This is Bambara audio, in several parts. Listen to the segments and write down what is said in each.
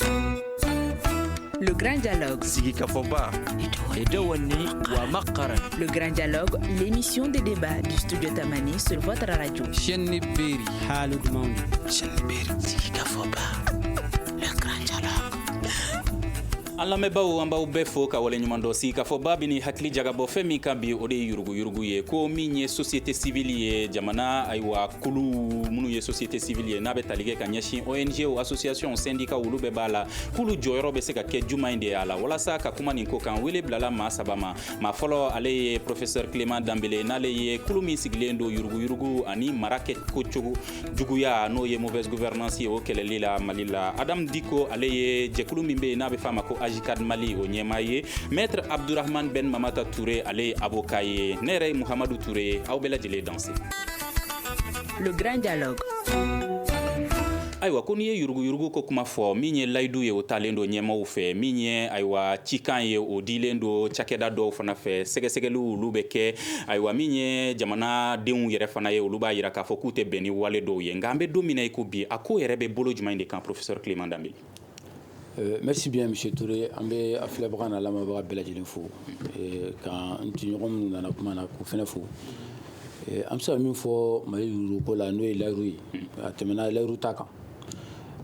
Le Grand Dialogue. Sigikafɔba. Et Dewani Wamakara. Le Grand Dialogue, l'émission de débat du studio Tamani sur votre radio. Chenni Beri. Halud Mauni. Chenni Beri. Sigikafɔba. Le Grand Dialogue. an lamɛnbaaw an b'aw bɛɛ fo ka waleɲumandɔn sigikafɔba bɛ n'i hakili jagabɔ fɛn min kan bi o de ye yuruguyurugu ye ko min ye société civile ye jamana ayiwa kulu minnu ye société civile ye n'a bɛ tali kɛ ka ɲɛsin ong o association syndicat olu bɛɛ b'a la k'olu jɔyɔrɔ bɛ se ka kɛ jumɛn de y'a la walasa ka kuma nin ko kan wele bilala maa saba ma maa fɔlɔ ale ye professeur clément dembélé n'ale ye kulu min sigilen don yuruguyurugu ani mara kɛ ko cogo juguya n'o ye mauvaise gouvernance ye o kɛlɛli la mali la adam dicko ale ye jɛkulu min bɛ yen n'a bɛ f'a ma ko ajcad mali o ɲɛmaa ye maître abdourahamane ben mamata touré ale ye avocat ye ne yɛrɛ ye mouhamadou touré ye aw bɛɛ lajɛlen danse Le grand dialogue ayiwa ko n'i ye yuruguyurugu ko kuma fɔ min ye layidu ye o talen don ɲɛmaaw fɛ min ye ayiwa cikan ye o dilen don cakɛda dɔw fana fɛ sɛgɛsɛgɛliw olu bɛ kɛ ayiwa min ye jamanadenw yɛrɛ fana ye olu b'a yira k'a fɔ k'u tɛ bɛn ni wale dɔw ye nka an bɛ don min na i ko bi a ko yɛrɛ bɛ bolo jumɛn de kan professeur Clément Dembélé Euh, merci bien monsieur Touré an bɛ a filɛbaga n'a lamɛnbaga bɛɛ lajɛlen fo euh, ka n tɔɲɔgɔn minnu nana kuma na k'u fana fo euh, an bɛ se ka min fɔ mali yuruguko la n'o ye layiru ye a tɛmɛna layiru ta kan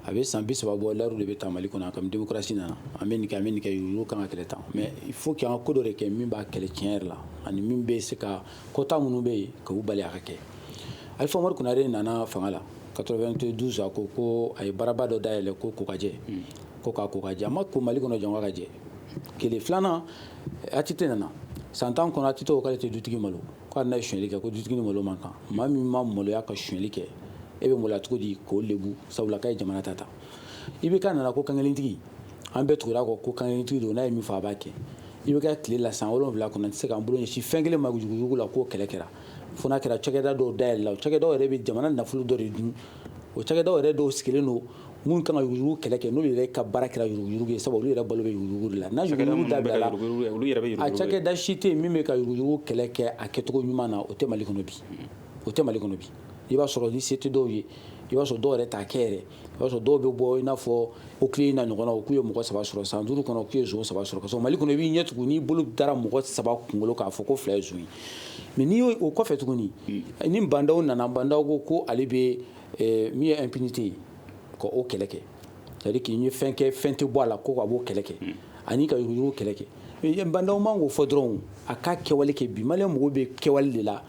a bɛ san bi saba bɔ layiru de bɛ ta mali kɔnɔ kabini démocratie nana an bɛ nin kɛ an bɛ nin kɛ yuruguko kan ka kɛlɛ tan mais il faut que an ka ko dɔ de kɛ min b'a kɛlɛ tiɲɛ yɛrɛ la ani min bɛ se ka kota minnu bɛ yen k'u bali a ka kɛ Alpha Oumar Konaré nana fanga la 92 a ko ko a ye baaraba dɔ dayɛlɛ ko kokajɛ hmm. ko ka kokajɛ a ma ko mali kɔnɔ jɔn ka jɛ kelen filanan ATT nana san tan kɔnɔ ATT ko k'ale tɛ dutigi malo ko hali n'a ye sonyali kɛ ko dutigi ni malo man kan maa min ma maloya ka sonyali kɛ e bɛ maloya cogo di k'o lebu sabula k'a ye jamana ta ta IBK nana ko kankelentigi an bɛɛ tugura a kɔ ko kankelentigi don n'a ye min fɔ a b'a kɛ IBK tile la san wolonwula kɔnɔ tɛ se k'an bolo sin fɛn kelen ma yuruguyurugu la k'o kɛlɛ kɛra fo n'a kɛra cakɛda dɔw dayɛlɛla o cakɛdaw yɛrɛ bɛ jamana nafolo dɔ de dun o cakɛdaw yɛrɛ dɔw sigilen don minnu kan ka yuruguyurugu kɛlɛ kɛ n'u yɛrɛ ka baara kɛra yuruguyurugu ye sabu olu yɛrɛ balo bɛ yuruguyurugu de la n'a yuruguyurugu dabila a cakɛda si tɛ yen min bɛ ka yuruguyurugu kɛlɛ kɛ a kɛcogo ɲuman na o tɛ mali kɔnɔ bi o tɛ mali kɔnɔ bi i b'a sɔrɔ ni se tɛ dɔw ye i b'a sɔrɔ dɔw yɛrɛ t'a kɛ yɛrɛ i b'a sɔrɔ dɔw bɛ bɔ i n'a fɔ OCLEI n'a ɲɔgɔnnaw k'u ye mɔgɔ saba sɔrɔ san duuru kɔnɔ k'u ye zon saba sɔrɔ kasɔrɔ mali kɔnɔ i b'i ɲɛ tugun n'i bolo dara mɔgɔ saba kunkolo k'a fɔ ko fila ye zon ye mais n'i y'o o kɔfɛ tuguni hmm. ni Bah N'Daw nana Bah N'Daw ko ko ale bɛ eh, min ye impunité ye ka o kɛlɛ kɛ c'est à dire k'i ye fɛn kɛ fɛn tɛ bɔ a la ko k'a b'o kɛlɛ kɛ hmm. ani ka yuruguyurugu kɛlɛ kɛ Bah N'Daw man kan k'o fɔ dɔrɔn a ka kɛwale kɛ bi maliyɛn mɔgɔw bɛ kɛwale de la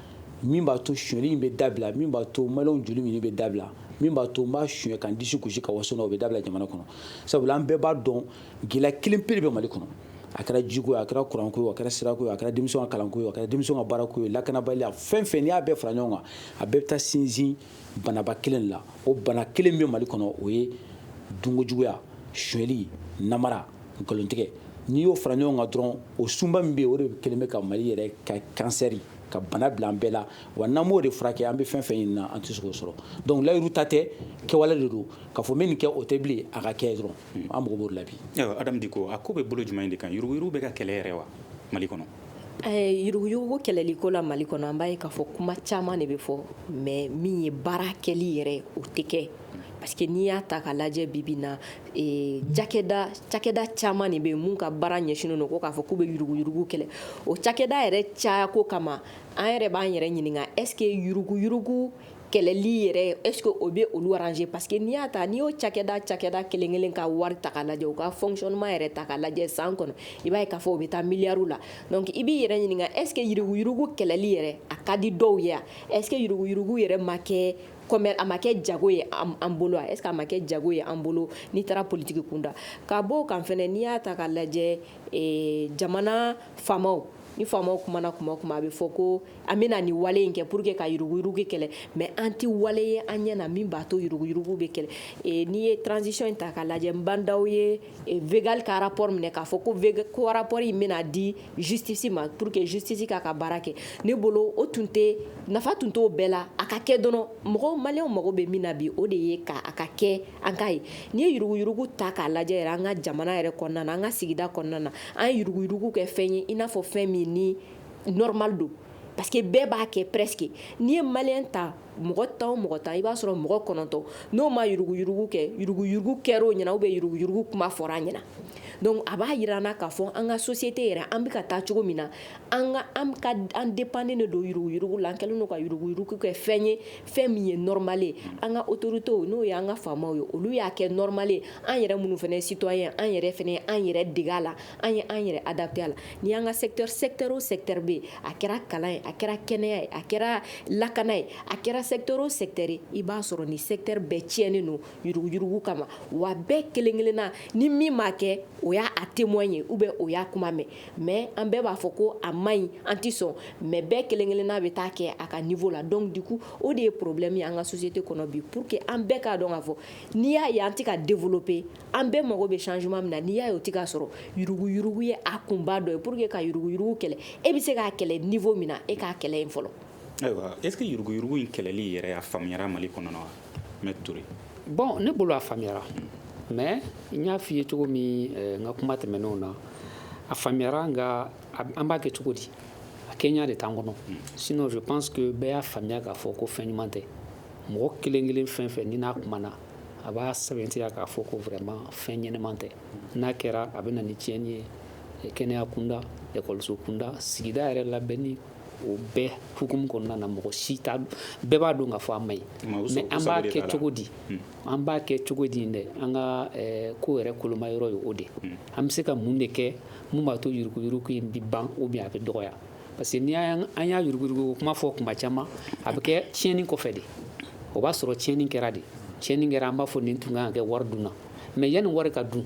min b'a to suɲɛli in bɛ dabila min b'a to maliyɛnw joli minni bɛ dabila min b'a to n b'a suɲɛ ka disi gosi ka waso o bɛ dabila jamana kɔnɔ sabula an bɛɛ b'a dɔn gɛlɛya kelen pe bɛ mali kɔnɔ a kɛra jiko ye a kɛra kuranko ye a kɛra sirako ye a kɛra denmisɛnw ka kalanko ye a kɛra denmisɛnw ka baarako ye lakanabaliya fɛn fɛn n'i y'a bɛɛ fara ɲɔgɔn kan a bɛɛ bɛ taa sinsin banaba kelen la o bana kelen bɛ mali kɔnɔ o ye dunkojuguya suɲɛli namara nkalontigɛ n'i y'o fara ɲɔgɔn kan dɔrɔn o sunba min bɛ o de kelen bɛ ka mali yɛrɛ ka kansɛri ka bana bila an bɛɛ la wa n'an m'o de furakɛ an bɛ fɛn fɛn ɲini na an tɛ se k'o sɔrɔ donc layiru ta tɛ kɛwale de don k'a fɔ n bɛ nin kɛ o tɛ bilen a ka kɛ dɔrɔn hmm. an mago b'o la bi adamu diko a ko bɛ bolo jumɛn de kan yuruguyurugu bɛ ka kɛlɛ yɛrɛ wa mali kɔnɔ eh, yuruguyurugu kɛlɛliko la mali kɔnɔ an b'a ye k'a fɔ kuma caman de bɛ fɔ mais min ye baara kɛli yɛrɛ o tɛ kɛ Parce que n'i y'a ta k'a lajɛ bi bi na ee cakɛda cakɛda caman de bɛ yen minnu ka baara ɲɛsinnen don ko k'a fɔ k'u bɛ yuruguyurugu kɛlɛ o cakɛda yɛrɛ caya ko kama an yɛrɛ b'an yɛrɛ ɲininka est ce que yuruguyurugu kɛlɛli yɛrɛ est ce que o bɛ olu arranger parce que n'i y'a ta n'i y'o cakɛda cakɛda kelen kelen ka wari ta k'a lajɛ u ka fonctionnement yɛrɛ ta k'a lajɛ san kɔnɔ i b'a ye k'a fɔ o bɛ taa miliyariw la donc i b'i yɛrɛ ɲininka est ce que yuruguyurugu kɛlɛli yɛrɛ a ka di dɔw ye est ce que yuruguyurugu yɛrɛ ma kɛ kɔmi a ma kɛ jago ye an bolo est ce que a ma kɛ jago ye an bolo n'i taara politiki kunda ka b'o kan fɛnɛ n'i y'a ta k'a lajɛ eh, jamana faamaw ni faamaw kumana kuma kuma a bɛ fɔ ko an bɛna nin wale in kɛ pour que ka yuruguyurugu kɛlɛ mais an tɛ wale ye an ɲɛ na min b'a to yuruguyurugu bɛ kɛlɛ eh, n'i ye transition in ta k'a lajɛ ba ndaw ye végal ka rapport minɛ k'a fɔ ko rapport in bɛna di justice ma pour que justice k'a ka baara kɛ ne bolo o tun tɛ nafa tun t'o bɛɛ la a ka kɛ dɔrɔn mɔgɔ maliyɛn mago bɛ min na bi o de ye k'a ka kɛ an k'a ye n'i ye yuruguyurugu ta k'a lajɛ yɛrɛ an ka jamana yɛrɛ kɔnɔna na an ka sigida kɔnɔna na an ye yuruguyurugu kɛ fɛn ye i n'a fɔ fɛn min ni normal don parce que bɛɛ b'a kɛ presque n'i ye maliyɛn ta mɔgɔ tan o mɔgɔ tan i b'a sɔrɔ mɔgɔ kɔnɔntɔn n'o ma yuruguyurugu kɛ yuruguyurugu kɛr'o ɲɛna ou bien yuruguyurugu kuma fɔr'a ɲɛna donc a b'a jira an na k'a fɔ an ka société yɛrɛ an bɛ ka taa cogo min na an ka an ka an dépendenen de don yuruguyurugu la an kɛlen don ka yuruguyurugu kɛ fɛn ye fɛn min ye normal ye an ka autorités n'o ye an ka faamaw ye olu y'a kɛ normal ye an yɛrɛ minnu fana citoyen an yɛrɛ fana an yɛrɛ dege a la an ye an yɛrɛ adapté a la n'i y'an ka secteur secteur o secteur bɛ yen a kɛra kalan ye a kɛra kɛnɛya ye a kɛra lakana ye a kɛra secteur o secteur ye i b'a sɔrɔ nin secteur bɛɛ tiɲɛnen don yuruguyurugu kama wa bɛɛ kelen kelenna ni min m'a kɛ o y'a témoin ye ou bien o y'a kuma mɛn mais an bɛɛ b'a fɔ ko a man ɲi an tɛ sɔn mais bɛɛ kelen kelenna bɛ taa kɛ a ka niveau la donc du coup o de ye problème ye an ka société kɔnɔ bi pour que an bɛɛ k'a dɔn k'a fɔ n'i y'a ye an tɛ ka développer An bɛɛ mago bɛ changement min na n'i y'a ye o tɛ ka sɔrɔ yuruguyurugu ye a kunba dɔ ye pour que ka yuruguyurugu kɛlɛ e bɛ se k'a kɛlɛ niveau min na e k'a kɛlɛ yen fɔlɔ. Ayiwa est-ce que yuruguyurugu in kɛlɛli yɛrɛ a faamuyara Mali kɔnɔ wa Maître Touré? Bon ne bolo a faamuyara mais n y'a f'i ye cogo min eh, n ka kuma tɛmɛnenw na a faamuyara nka an b'a kɛ cogo di a kɛɲa de t'an kɔnɔ hmm. sinon je pense que bɛɛ y'a faamuya k'a fɔ ko fɛn ɲuman tɛ mɔgɔ kelen kelen fɛn fɛn ni n'a kumana a b'a sɛbɛntiya k'a fɔ ko vraiment fɛn ɲɛnaman tɛ n'a kɛra a bɛ na ni tiɲɛni ye eh, kɛnɛya kunda ekɔliso kunda sigida yɛrɛ labɛnni o bɛɛ hukumu kɔnɔna na mɔgɔ si t'a bɛɛ b'a dɔn k'a fɔ a ma ɲi mais an b'a kɛ cogo di hmm. an b'a kɛ cogo di dɛ an ka eh, ko yɛrɛ koloma yɔrɔ ye o de hmm. an bɛ se ka mun de kɛ mun b'a to yurukuyuruku in bi ban ou bien a bɛ dɔgɔya Parce que ni an y'a yuruguyurugu kuma fɔ kuma caman a bɛ kɛ tiɲɛni kɔfɛ de o b'a sɔrɔ tiɲɛni kɛra de tiɲɛni kɛra an b'a fɔ nin tun kan ka kɛ wari dunna mais yanni wari ka dun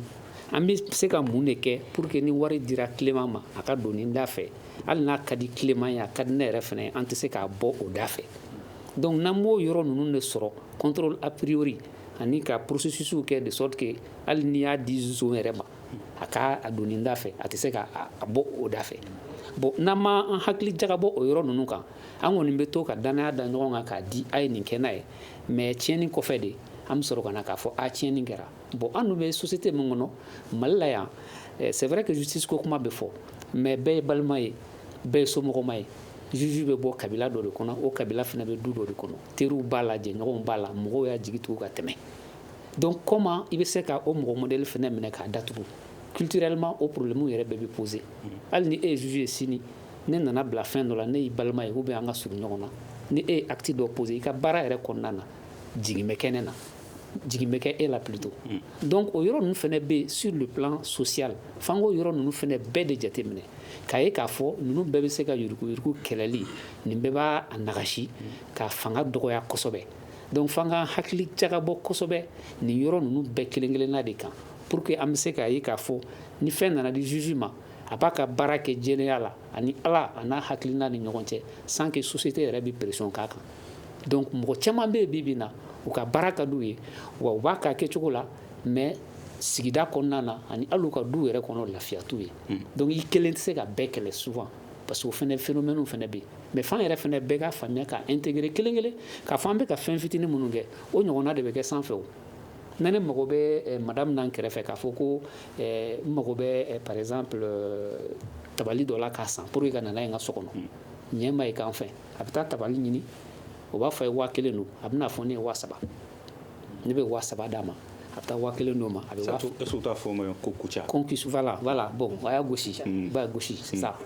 an bɛ se ka mun de kɛ pour que ni wari dira tilema ma a ka don da fɛ hali n'a ka di tilema ye a ka di ne yɛrɛ fana an tɛ se k'a bɔ o da fɛ donc n'an m'o yɔrɔ ninnu de sɔrɔ contrôle a priori ani ka processus kɛ de sorte que hali n'i y'a di zon yɛrɛ ma a ka don nin da fɛ a tɛ se k'a bɔ o da fɛ bon n'an ma an hakili jagabɔ o yɔrɔ ninnu kan an kɔni bɛ to ka danaya da ɲɔgɔn kan k'a di a ye nin kɛ n'a ye mais tiɲɛni kɔfɛ de an bɛ sɔrɔ ka na k'a fɔ a tiɲɛni kɛra bon an dun bɛ société min kɔnɔ Mali la yan eh, c'est vrai que justice ko kuma bɛ fɔ mais bɛɛ ye balima ye bɛɛ ye somɔgɔma ye juge bɛ bɔ kabila dɔ de kɔnɔ o kabila fana bɛ du dɔ de kɔnɔ teriw b'a la jɛɲɔgɔnw b'a la mɔgɔw y'a jigi tugu ka tɛmɛ Donc comment i bɛ se ka o mɔgɔ modèle fana minɛ k'a datugu culturellement o problème yɛrɛ bɛɛ bɛ poser hali ni e ye juge ye sini ne nana bila fɛn dɔ la ne y'i balima ye ou bien an ka surun ɲɔgɔn na ni e ye acte dɔ poser i ka baara yɛrɛ kɔnɔna na jigin bɛ kɛ ne na jigin bɛ kɛ e la plutôt donc o yɔrɔ ninnu fana bɛ sur le plan social f'an k'o yɔrɔ ninnu fana bɛɛ de jateminɛ k'a ye k'a fɔ ninnu bɛɛ bɛ se ka yuruguyurugu kɛlɛli nin bɛɛ b'a nagasi k'a fanga dɔgɔya kosɛbɛ Donc f'an ka hakili jagabɔ kosɛbɛ nin yɔrɔ ninnu bɛɛ kelen-kelenna de kan pour que an bɛ se k'a ye k'a fɔ ni fɛn nana di juge ma a b'a ka baara kɛ jɛlenya la ani Ala a n'a hakilina ni ɲɔgɔn cɛ sans que société yɛrɛ bɛ pression k'a kan donc mɔgɔ caman bɛ yen bi bi na u ka baara ka d'u ye wa u b'a k'a kɛcogo la mais sigida kɔnɔna na ani hali u ka du yɛrɛ kɔnɔ lafiya t'u ye donc i kelen tɛ se ka bɛɛ kɛlɛ souvent parce que o fana phénomène fana bɛ yen mais f'an yɛrɛ fana bɛɛ k'a faamuya k'a intégrer kelen kelen k'a fɔ an bɛ ka fɛn fitinin minnu kɛ o ɲɔgɔnna de bɛ kɛ sanfɛ o na ne mago bɛ eh, madame n'an kɛrɛfɛ k'a fɔ ko eh, n mago bɛ eh, par exemple tabali dɔ la k'a san pour que ka na n'a ye n ka so kɔnɔ ɲɛ ma ye k'an fɛ a bɛ taa tabali ɲini o b'a fɔ a ye waa kelen don a bɛ n'a fɔ ne ye waa saba ne bɛ waa saba d'a ma a bɛ taa waa kelen d'o ma a bɛ taa fɔ ma ko kuca kɔnkifa voilà bon a y'a gosi hmm. b'a gosi hmm. c'est ça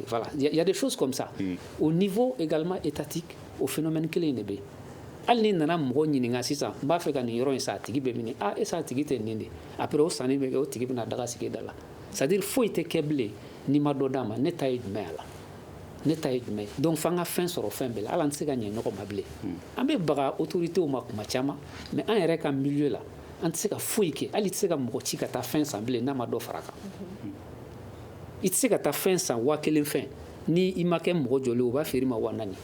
voilà il y a des choses comme ça hmm. au niveau également étatique o phénomène kelen in de bɛ hali ne nana mɔgɔ ɲininka sisan n b'a fɛ ka nin yɔrɔ in san a tigi bɛ min aaa e sa a tigi tɛ nin de après o sanni bɛ kɛ o tigi bɛna daga sigi da la c'est-à-dire foyi tɛ kɛ bilen n'i ma dɔ d'a ma ne ta ye jumɛn y'a la ne ta ye jumɛn donc f'an ka fɛn sɔrɔ fɛn bɛɛ la hali an tɛ se ka ɲɛ ɲɔgɔn ma bilen hmm. an bɛ baga autoritéw ma kuma caman mais an yɛrɛ ka milieu la an tɛ se ka foyi kɛ hali i tɛ se ka mɔgɔ ci ka taa fɛn san bilen n'a ma dɔ fara a kan hmm. i tɛ se ka taa fɛn san waa kelen fɛn ni i ma kɛ mɔgɔ jɔlen o b'a feere ma waa naani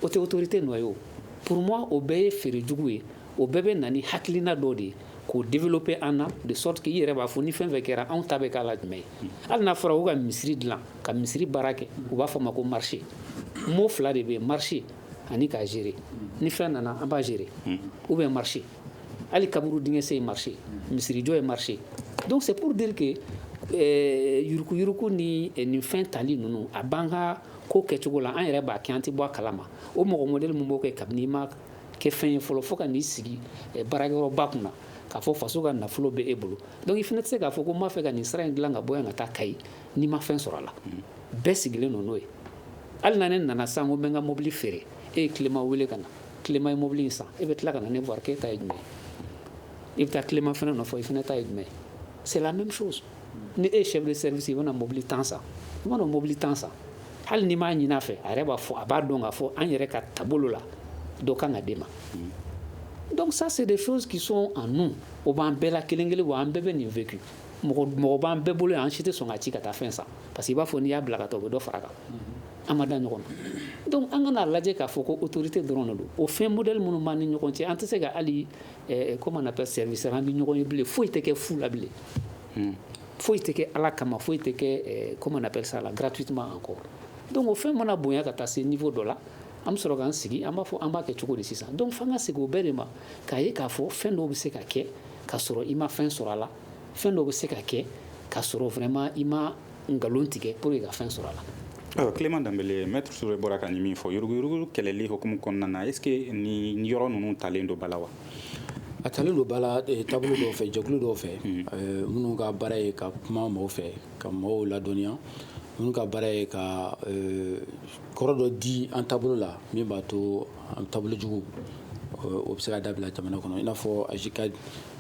o tɛ autorité nɔ ye o pour moi o bɛɛ ye feere jugu ye o bɛɛ bɛ na ni hakilina dɔ de ye k'o développer an na de sorte que i yɛrɛ b'a fɔ ni fɛn fɛn kɛra anw ta bɛ k'a la jumɛn ye hali n'a fɔra ko ka misiri dilan ka misiri baara kɛ u b'a fɔ ma ko marché mot fila de bɛ yen marché ani k'a gérer ni fɛn nana an b'a gérer ou bien marché hali kaburu dingɛsen ye marché misirijɔ ye marché donc c'est pour dire que eh, yuruguyurugu ni eh, nin fɛn tali ninnu a b'an ka ko kɛcogo la an yɛrɛ b'a kɛ an tɛ bɔ a kalama o mɔgɔ modèle min b'o kɛ kabini i ma kɛ fɛn ye fɔlɔ fo ka n'i sigi eh, baarakɛyɔrɔba kunna k'a fɔ faso ka nafolo bɛ e bolo donc i fana tɛ se k'a fɔ ko n b'a fɛ ka nin sira in dilan ka bɔ yan ka taa kayi n'i ma fɛn sɔrɔ a la bɛɛ sigilen don n'o ye hali na ne nana sisan ko n bɛ n ka mobili feere e ye clément wele ka na clément ye mobili in san e bɛ tila ka na ne voir k'e ta ye jumɛn ye i bɛ taa clément fana nɔfɛ i fana ta ye jumɛn ye c'est la même chose ni e chef de service i bɛna mobili tan san i mana mobili tan san hali n'i m'a ɲinin a fɛ a yɛrɛ b'a fɔ a b'a dɔn k'a fɔ an yɛrɛ ka taabolo la dɔ kan ka d'e ma donc ça c'est des choses qui sont en nous o b'an bɛɛ la kelen kelen wa an bɛɛ bɛ nin vécu mɔgɔ mɔgɔ b'an bɛɛ bolo an si tɛ sɔn ka ci ka taa fɛn san parce que i b'a fɔ n'i y'a bila ka taa o bɛ dɔ fara kan an ma da ɲɔgɔn na donc an kana lajɛ k'a fɔ ko autorité dɔrɔn de don o fɛn modèle minnu b'an ni ɲɔgɔn cɛ an tɛ se ka hali eh, eh, comment on appelle service rendre ɲɔgɔn ye bilen foyi tɛ kɛ fu la bilen hmm. foyi tɛ kɛ ala kama foyi tɛ kɛ eh, comment on appelle ça là gratuitement encore donc o fɛn mana bonya ka taa se niveau dɔ la an bɛ sɔrɔ k'an sigi an b'a fɔ an b'a kɛ cogo di sisan donc f'an ka segin o bɛɛ de ma k'a ye k'a fɔ fɛn dɔw bɛ se ka kɛ k'a sɔrɔ i ma fɛn sɔrɔ a la fɛn dɔw bɛ se ka kɛ k'a sɔrɔ vraiment i ma nkalon tigɛ pour que ka fɛn sɔrɔ a la ayiwa clément dembélé maître touré bɔra ka nin min fɔ yuruguyurugu kɛlɛli hukumu kɔnɔna na est ce que nin yɔrɔ ninnu talen don ba la wa a talen don ba la eh, taabolo dɔw fɛ jɛkulu dɔw fɛ hmm. eh, minnu ka baara ye ka kuma mɔgɔw fɛ ka mɔgɔw ladɔnniya minnu ka baara ye ka eh, kɔrɔ dɔ di an taabolo la min b'a to an taabolo jugu o bɛ se ka dabila jamana kɔnɔ i n'a fɔ ajcad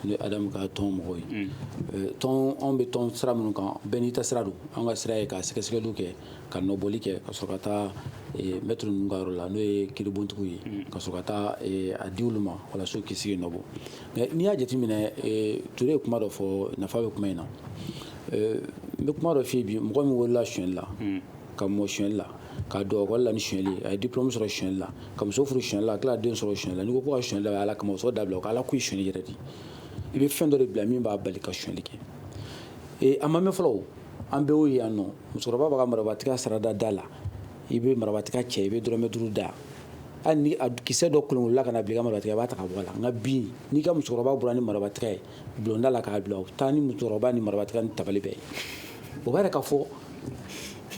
ni adamu ka tɔn mɔgɔw ye mm. tɔn anw bɛ tɔn sira minnu kan bɛɛ n'i ta sira don an ka sira ye ka sɛgɛsɛgɛliw kɛ ka nɔbɔli kɛ ka sɔrɔ ka taa mɛtiri ninnu ka yɔrɔ la n'o ye kiribontigiw ye mm. ka sɔrɔ ka taa a di olu ma walasa kisi ye nɔbɔ mɛ n'i y'a jateminɛ ture ye kuma dɔ fɔ nafa bɛ kuma in na n bɛ kuma dɔ f'i ye bi mɔgɔ min wolola sonyɛli la mm. ka mɔ sonyɛli la ka don ekɔli la ni sonyɛli a ye diplôme sɔrɔ sonyɛli la ka muso furu sonyɛli la tila den sɔrɔ sonyɛli la n'i ko sonyɛlila ala kama sonya dabila k' ala k' i sonyɛli yɛrɛ de i bɛ fɛn dɔ de bila min b'a bali ka sonyɛli kɛ ee a ma mɛn fɔlɔ an bɛɛ y'o ye yan nɔ musokɔrɔba b'a ka marabatiga sara da da la i bɛ marabatiga cɛ i bɛ dɔrɔmɛ duuru da hali ni a kisɛ dɔ kolonkolonna ka na bila i ka marabatiga i b'a ta ka bɔ a la nka bi n'i ka musokɔrɔba bɔra ni marabatiga ye bulonda la k'a bila u taa ni musokɔrɔba ni marabatiga ni tabali bɛɛ ye o b'a yira k'a fɔ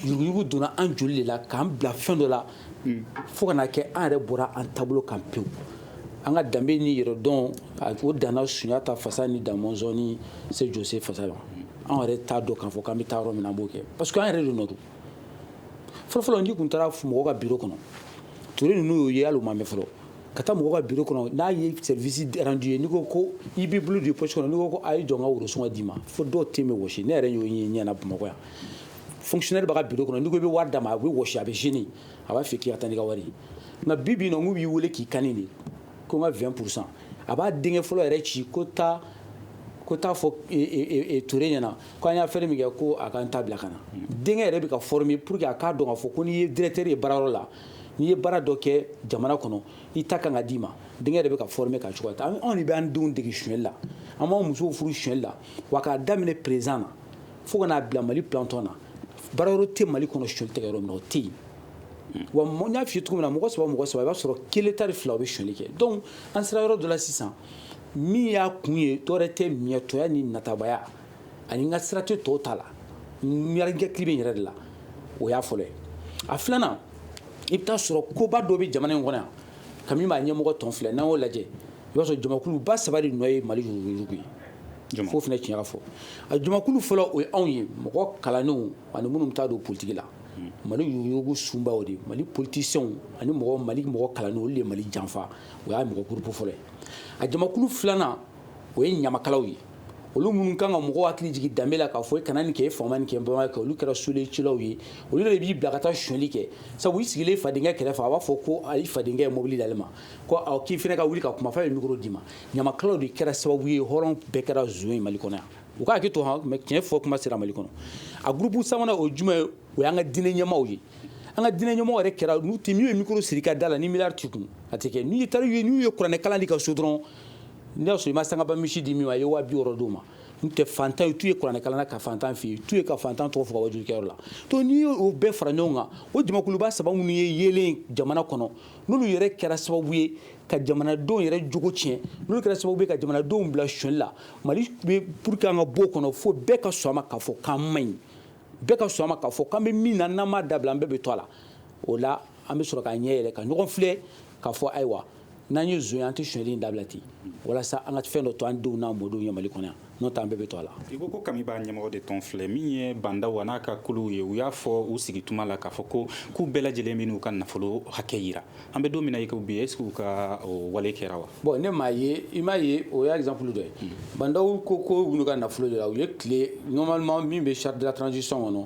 yuruguyurugu donna an joli de la k'an bila fɛn dɔ la hmm. fo ka na kɛ an yɛrɛ bɔra an taabolo kan pewu an ka danbe ni yɛrɛdɔn o danna sunjata fasa ni damɔnzɔn ni se jose fasa la an yɛrɛ t'a dɔn k'a fɔ k'an bɛ taa yɔrɔ min na an b'o kɛ parce que an yɛrɛ de nɔ don fɔlɔfɔlɔ n'i kun taara mɔgɔ ka biro kɔnɔ ture ninnu y'o ye hali o ma mɛn fɔlɔ ka taa mɔgɔ ka biro kɔnɔ n'a ye service rendu ye n'i ko ko i b'i bolo don i poche kɔnɔ n'i ko a ye jɔ n ka worosɔngɔ d'i ma fo dɔw ten bɛ wɔsi ne yɛrɛ y'o ye n ɲɛ na bamakɔ yan fonctionnaire b'a ka biro kɔnɔ n'i ko i bɛ wari d'a ma a bɛ wɔsi a bɛ gêner a b'a fɛ k'i ka taa n'i ka wari ye nka bi bi in na u b'i weele k'i kan de ko n ka vingt pour cent a b'a denkɛ fɔlɔ yɛrɛ ci ko taa ko t'a fɔ ture ɲɛna ko an y'a fɛn min kɛ ko a ka n ta bila ka na denkɛ yɛrɛ bɛ ka former pour que a k'a dɔn k'a fɔ ko n'i ye directeur ye baarayɔrɔ la n'i ye baara dɔ kɛ jamana kɔnɔ i ta kan ka d'i ma denkɛ de bɛ ka former ka cogoya an anw de bɛ an denw dege sonyɛli la an b'an musow furu sonyɛli la wa k'a daminɛ président na fo ka n'a bila mali planton na baarayɔrɔ tɛ mali kɔnɔ sonyɛli tɛ kɛ yɔrɔ min o tɛ yen wa n y'a f'i ye cogo min na mɔgɔ saba mɔgɔ saba i b'a sɔrɔ kelen tari fila o bɛ sonyɛli kɛ donc an sera yɔrɔ dɔ la sisan min y'a kun ye dɔwɛrɛ tɛ miɲɛtɔya ni natabaya ani n ka sira tɛ tɔw ta la ne hakili bɛ n yɛrɛ de la o y'a fɔlɔ ye a filanan i bɛ taa sɔrɔ koba dɔ bɛ jamana in kɔnɔ yan kami b'a ɲɛmɔgɔ tɔn filɛ n'an y'o lajɛ i b'a sɔrɔ jamakuluba saba de nɔ ye mali yuruguyurugu ye fo fana tiɲɛ fɔ a jamakulu fɔlɔ o ye anw ye mɔgɔ kalannenw ani minnu bɛ taa don politigi la mali yuruguyurugu sunba o de mali politisiyɛnw ani mɔgɔ mali mɔgɔ kalannenw olu de ye mali janfa o y'a mɔgɔ gurupu fɔlɔ ye a jamakulu filanan o ye ɲamakalaw ye olu minnu kan ka mɔgɔw hakili jigin danbe la k'a fɔ i kana nin kɛ i fa ma nin kɛ i ba ma nin kɛ olu kɛra sule cilaw ye olu de b'i bila ka taa sonyali kɛ sabu i sigilen fadenkɛ kɛrɛfɛ a b'a fɔ ko i fadenkɛ ye mobili d'ale ma ko awɔ k'i fana ka wuli ka kuma f'a ye mikoro d'i ma ɲamakalaw de kɛra sababu ye hɔrɔn bɛɛ kɛra zon ye mali kɔnɔ yan u ka hakɛto han mɛ tiɲɛ fɔ kuma sera mali kɔnɔ a gurupu sabanan o jumɛn ye o y'an ka diinɛ ɲɛmaaw ye an ka diinɛ ɲɛmɔgɔw yɛrɛ kɛra n'u tɛ min ye mikoro siri i ka da la ni miliyari t'i kun a tɛ kɛ n'i taara n'u ye kuranɛ kalan di ka so dɔrɔn n'i y'a sɔrɔ i ma sangaba misi di min ma i ye waa bi wɔɔrɔ d'o ma n tɛ fantan tu ye kuranɛkalan na ka fantan f'i ye tu ye ka fantan tɔgɔ fɔ ka wajurukɛyɔrɔ la donc n'i y'o bɛɛ fara ɲɔgɔn kan o jamakuluba saba minnu ye yeelen jamana kɔnɔ n'olu yɛrɛ kɛra sababu ye ka jamanadenw yɛrɛ jogo tiɲɛ n'olu kɛra sababu ye ka jamanadenw bila sonyali la mali bɛ pour que an ka bɔ o kɔnɔ fo bɛɛ ka sɔn a ma k'a fɔ k'an man ɲi bɛɛ ka sɔn a ma k'a fɔ k'an bɛ min na n'an m'a dabila an bɛɛ bɛ to a la o la an bɛ sɔrɔ k'a ɲɛ yɛlɛ ka ɲɔgɔn filɛ k'a fɔ ayiwa n'an ye zon ye an tɛ sonyali in dabila ten walasa an ka fɛn dɔ to an denw n'an mɔdenw ye mali kɔnɔ yan n'o tɛ an bɛɛ bɛ to a la i ko ko kami b'a ɲɛmɔgɔ de tɔn filɛ min ye bah ndaw a n'a ka kuluw ye u y'a fɔ u sigi tuma la k'a fɔ ko k'u bɛɛ lajɛlen bɛ n'u ka nafolo hakɛ yira an bɛ don min na i ko bi est ce que u ka wale kɛra wa bon ne m'a ye i m'a ye o y'a exemple dɔ ye bah ndaw ko ko u n'u ka nafolo yira u ye tile normalement min bɛ charte de la transition kɔnɔ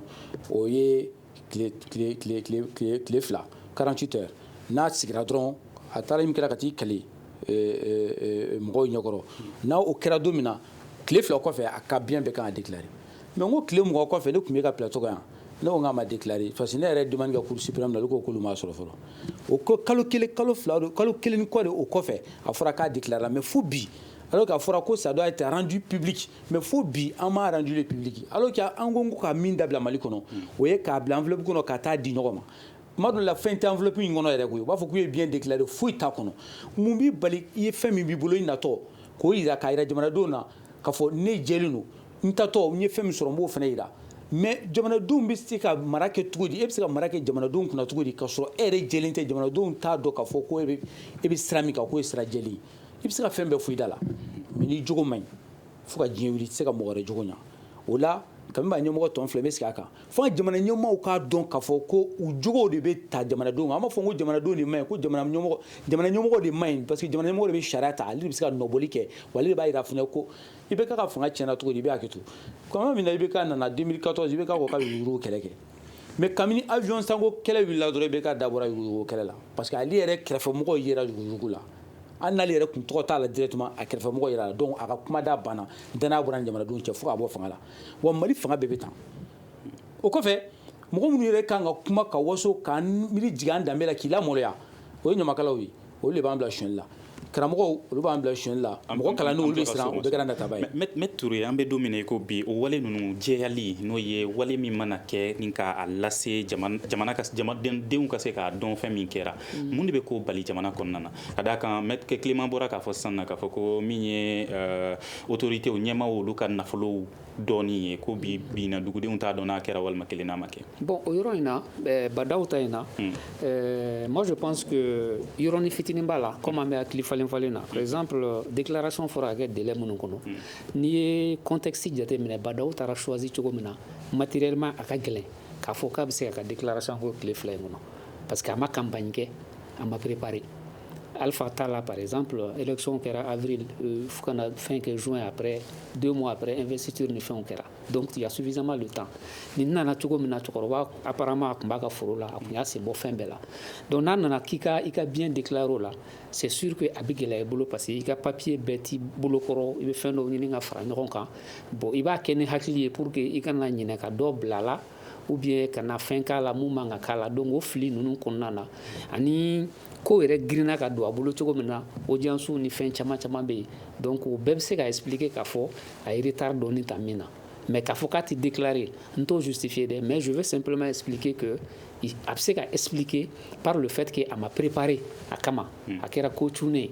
o ye tile fila 48 heures n'a sigira dɔrɔn a taara min kɛra ka t'i kale mɔgɔw ɲɛkɔrɔ n'o kɛra don min na tile fila kɔfɛ a ka bien bɛɛ kan ka déclarer mais n ko tile mugan kɔfɛ tun b'e ka plateau kan yan ne ko k'a ma déclarer parce que ne yɛrɛ demande kɛ cour suprême na ko k'olu m'a sɔrɔ fɔlɔ o ko kalo kelen kalo fila don kalo kelen kɔ de o kɔfɛ a fɔra k'a déclarer mais fo bi alors qu'a fɔra ko ça doit être rendu public mais fo bi an m'a rendu le public alors que an ko ko ka min dabila mali kɔnɔ o ye k'a bila enveloppe kɔnɔ ka taa di ɲɔgɔn ma tuma dɔ la fɛn tɛ enveloppe in kɔnɔ yɛrɛ koyi u b'a fɔ k'u ye bien déclarer foyi t'a kɔnɔ mun b'i bali i ye fɛn min b'i bolo i natɔ k'o yira k'a yira jamanadenw na k'a fɔ ne jɛlen don n taatɔ n ye fɛn min sɔrɔ n b'o fana yira mais jamanadenw bɛ se ka mara kɛ cogo di e bɛ se ka mara kɛ jamanadenw kunna cogo di k'a sɔrɔ e yɛrɛ jɛlen tɛ jamanadenw t'a dɔn k'a fɔ ko e bɛ sira min kan k'o ye sira jɛlen ye i bɛ se ka fɛn bɛɛ fɔ i da la mais n'i jogo man ɲi fo ka diɲɛ wuli i tɛ se ka mɔgɔ wɛrɛ jogo ɲa o la kami b'a ɲɛmɔgɔ tɔn filɛ n bɛ sigi a kan fo ka jamana ɲɛmɔgɔw k'a dɔn k'a fɔ ko u jogow de bɛ ta jamanadenw kan an b'a fɔ ko jamanadenw de man ɲi ko jamana ɲɛmɔgɔ jamana ɲɛmɔgɔ de man ɲi parce que jamana ɲɛmɔgɔ de bɛ sariya ta ale de bɛ se ka nɔbɔli kɛ wa ale de b'a jira fana ko IBK ka fanga tiɲɛna cogo di i bɛ hakɛ to tuma min na IBK nana 2014 IBK ko ka yurugu kɛlɛ kɛ mais kabini avion sanko kɛlɛ wulila dɔrɔn IBK dabɔra yurugu kɛlɛ la parce que ale yɛrɛ kɛrɛfɛmɔgɔw yera yurugu la hali n'ale yɛrɛ kun tɔgɔ t'a la directement a kɛrɛfɛmɔgɔ yer'a la donc a ka kumada banna danaya bɔr'a ni jamanadenw cɛ fo ka bɔ fanga la wa mali fanga bɛɛ bɛ tan o kɔfɛ mɔgɔ minnu yɛrɛ kan ka kuma ka waso k'an miiri jigin an danbe la k'i lamaloya o ye ɲamakalaw ye olu de b'an bila sonyali la karamɔgɔw olu b'an bila sonyali la mɔgɔ kalannenw olu de siran u bɛɛ kɛra nataba ye mais ture an bɛ don min na i ko bi o wale ninnu jɛyali n'o ye wale min mana kɛ ni k'a lase jamana ka jamanadenw ka se k'a dɔn fɛn min kɛra mm. mun de bɛ k'o bali jamana kɔnɔna na ka d'a kan Maître Clément bɔra k'a fɔ sisan na k'a fɔ ko min ye euh, autoritéw ɲɛmaw olu ka nafolow dɔnni ye ko bi bi in na dugudenw t'a dɔn n'a kɛra walima kelen n'a ma kɛ bon o yɔrɔ in na euh, Bah N'Daw ta in na mm. euh, moi je pense que yɔrɔni fitinin b'a la comme an bɛ hakili falen falen na par exemple déclaration fɔra ka kɛ délai minnu kɔnɔ mm. n'i ye contexte jateminɛ Bah N'Daw tara choisi cogo min na matériellement a ka gɛlɛn k'a fɔ k'a bɛ se ka ka déclaration kɛ tile fila in kɔnɔ parce que a ma campagne kɛ a ma préparé Alpha ta la par exemple élection kɛra avril euh, fo ka na fɛn kɛ juin après deux mois après investiture ni fɛnw kɛra donc il y a suffisamment de temps nin nana cogo min na cɛkɔrɔba apparemment a tun b'a ka foro la a tun y'a sen bɔ fɛn bɛɛ la donc n'a nana k'i ka i ka bien déclarer o la c'est sûr que a bɛ gɛlɛya i bolo parce que i ka papier bɛɛ t'i bolo kɔrɔ i bɛ fɛn dɔw ɲini ka fara ɲɔgɔn kan bon i b'a kɛ ni hakili ye pour que i kana ɲinɛ ka dɔ bila a la ou bien kana fɛn k'a la mun man ka k'a la donc o fili ninnu kɔnɔna na ani ko yɛrɛ girinna ka don a bolo cogo min na audiencew ni fɛn caman caman bɛ yen donc o bɛɛ bɛ se ka expliquer k'a fɔ a ye retard dɔɔnin ta min na mais k'a fɔ k'a tɛ déclarer n t'o justifier dɛ mais je veux simplement expliquer que a bɛ se ka expliquer par le fait que a ma préparé a kama a kɛra ko cunnen ye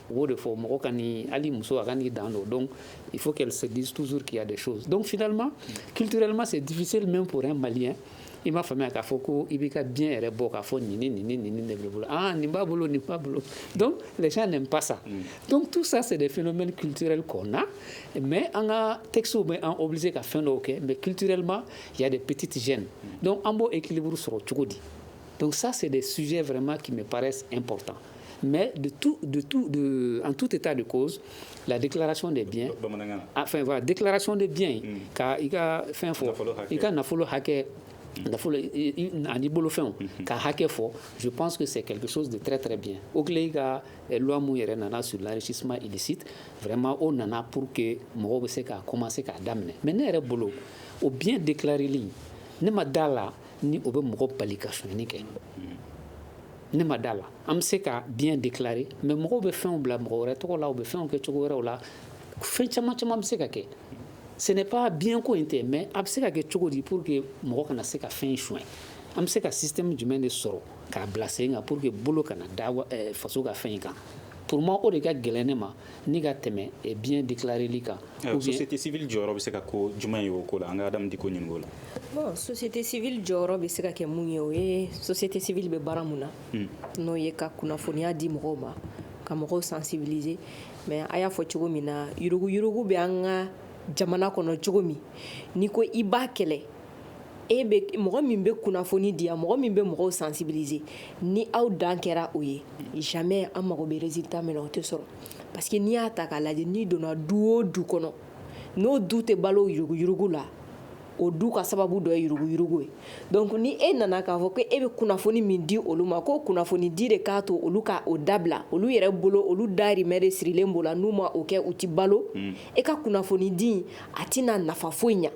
o de fɔ mɔgɔ kan'i hali muso a kan'i dan dɔn donc il faut qu'elle se dise toujours qu'il y a des choses donc finalement culturellement c'est difficile même pour un malien i m'a faamuya k'a fɔ ko i b'i ka bien yɛrɛ bɔ k'a fɔ nin ni nin ni nin ni de b'i bolo ah nin b'a bolo nin b'a bolo donc les gens n'aiment pas ça mm. donc tout ça c'est des phénomènes culturels qu'on a mais an ka textew bɛ an obligé ka fɛn dɔw kɛ mais culturellement il y a des petites gênes mm. donc an b'o équilibre sɔrɔ cogo di donc ça c'est des sujets vraiment qui me paraissent importants Mais de tout, de tout, de, en tout état de cause, la déclaration des biens, enfin voilà, déclaration des biens, mm. ka i ka fɛn fɔ, i ka nafolo hakɛ nafolo ani bolofɛnw mm-hmm. ka hakɛ fɔ je pense que c'est quelque chose de très très bien OCLEI ka eh, loi mun yɛrɛ nana sur l'enrichissement illicite vraiment o nana pour que mɔgɔw bɛ se ka commencer k'a daminɛ mais ne yɛrɛ bolo o bien déclareli ne ma da la ni o bɛ mɔgɔ bali ka sonyani kɛ mm-hmm. ne ma da la an bɛ se ka bien déclarer mais mɔgɔw bɛ fɛnw bila mɔgɔ wɛrɛ tɔgɔ la u bɛ fɛnw kɛ cogo wɛrɛw la fɛn caman caman bɛ se ka kɛ ce n'est pas bien ko in tɛ mais a bɛ se ka kɛ cogo di pour que mɔgɔ kana se ka fɛn sonya an bɛ se ka système jumɛn de sɔrɔ k'a bila sen kan pour que bolo kana da eh, faso ka fɛn in kan pour moi o de ka gɛlɛn ne ma ni ka tɛmɛ eh, bien déclareli kan eh, société civile jɔyɔrɔ bɛ se ka kɛ jumɛn ye o ko la an ka Adam Dicko ɲininka o la bon société civile jɔyɔrɔ bɛ se ka kɛ mun ye o ye société civile bɛ baara mun na hmm. n'o ye ka kunnafoniya di mɔgɔw ma ka mɔgɔw sensibiliser mais a y'a fɔ cogo min na yuruguyurugu bɛ an ka jamana kɔnɔ cogo min n'i ko i b'a kɛlɛ e bɛ mɔgɔ min bɛ kunnafoni di yan mɔgɔ min bɛ mɔgɔw sensibiliser ni aw dan kɛra o ye jamais an mago bɛ résultat min na o tɛ sɔrɔ parce que n'i y'a ta k'a lajɛ n'i donna du o du kɔnɔ n'o du tɛ balo yuruguyurugu la o du ka sababu dɔ ye yuruguyurugu ye donc ni e nana k'a fɔ ko e bɛ kunnafoni min di olu ma k'o kunnafoni di de k'a to olu ka o dabila olu yɛrɛ bolo olu dahirimɛ de sirilen b'o la n'u ma o kɛ u tɛ balo e ka kunnafoni di a tɛna nafa foyi ɲɛ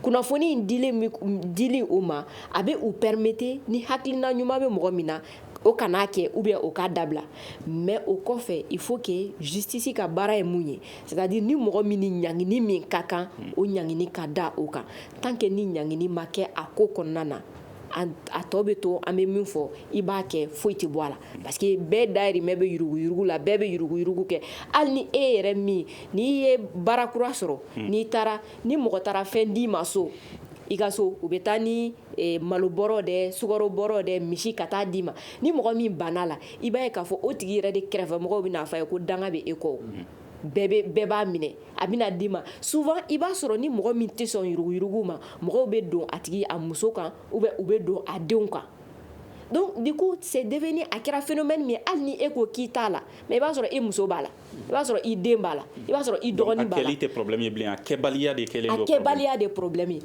kunnafoni in dili u ma a bɛ u permettre ni hakilina ɲuman bɛ mɔgɔ min na o kana a kɛ ou bien o ka dabila mais o kɔfɛ il faut que justice ka baara ye mun ye c'est-à-dire ni mɔgɔ min ni ɲangini min ka kan o ɲangini ka da o kan tant que ni ɲangini ma kɛ a ko kɔnɔna na a tɔ bɛ to an bɛ min fɔ i b'a kɛ foyi tɛ bɔ a la Parce que bɛɛ dahirimɛ bɛ yuruguyurugu la bɛɛ bɛ yuruguyurugu kɛ hali ni e yɛrɛ min n'i ye baara kura sɔrɔ n'i taara ni mɔgɔ taara fɛn d'i ma so i ka so u bɛ taa ni malo bɔrɔ de sukaro bɔrɔ de misi ka taa d'i ma ni mɔgɔ min banna la i b'a ye k'a fɔ o tigi yɛrɛ de kɛrɛfɛmɔgɔw b'a fɔ a ye ko danga bɛ e kɔ bɛɛ b'a minɛ a bɛna d'i ma souvent i b'a sɔrɔ ni mɔgɔ min tɛ sɔn yuruguyurugu ma mɔgɔw bɛ don a tigi a muso kan ou bien u bɛ don a denw kan de ko sɛ de a kɛra f bɛ min hali ni e ko k'i t'a la mɛ i b'a sɔrɔ i muso b'a la i b'a sɔrɔ i den b'a la i b'a sɔrɔ i dɔgɔnin tɛbiya debaliya de pbilami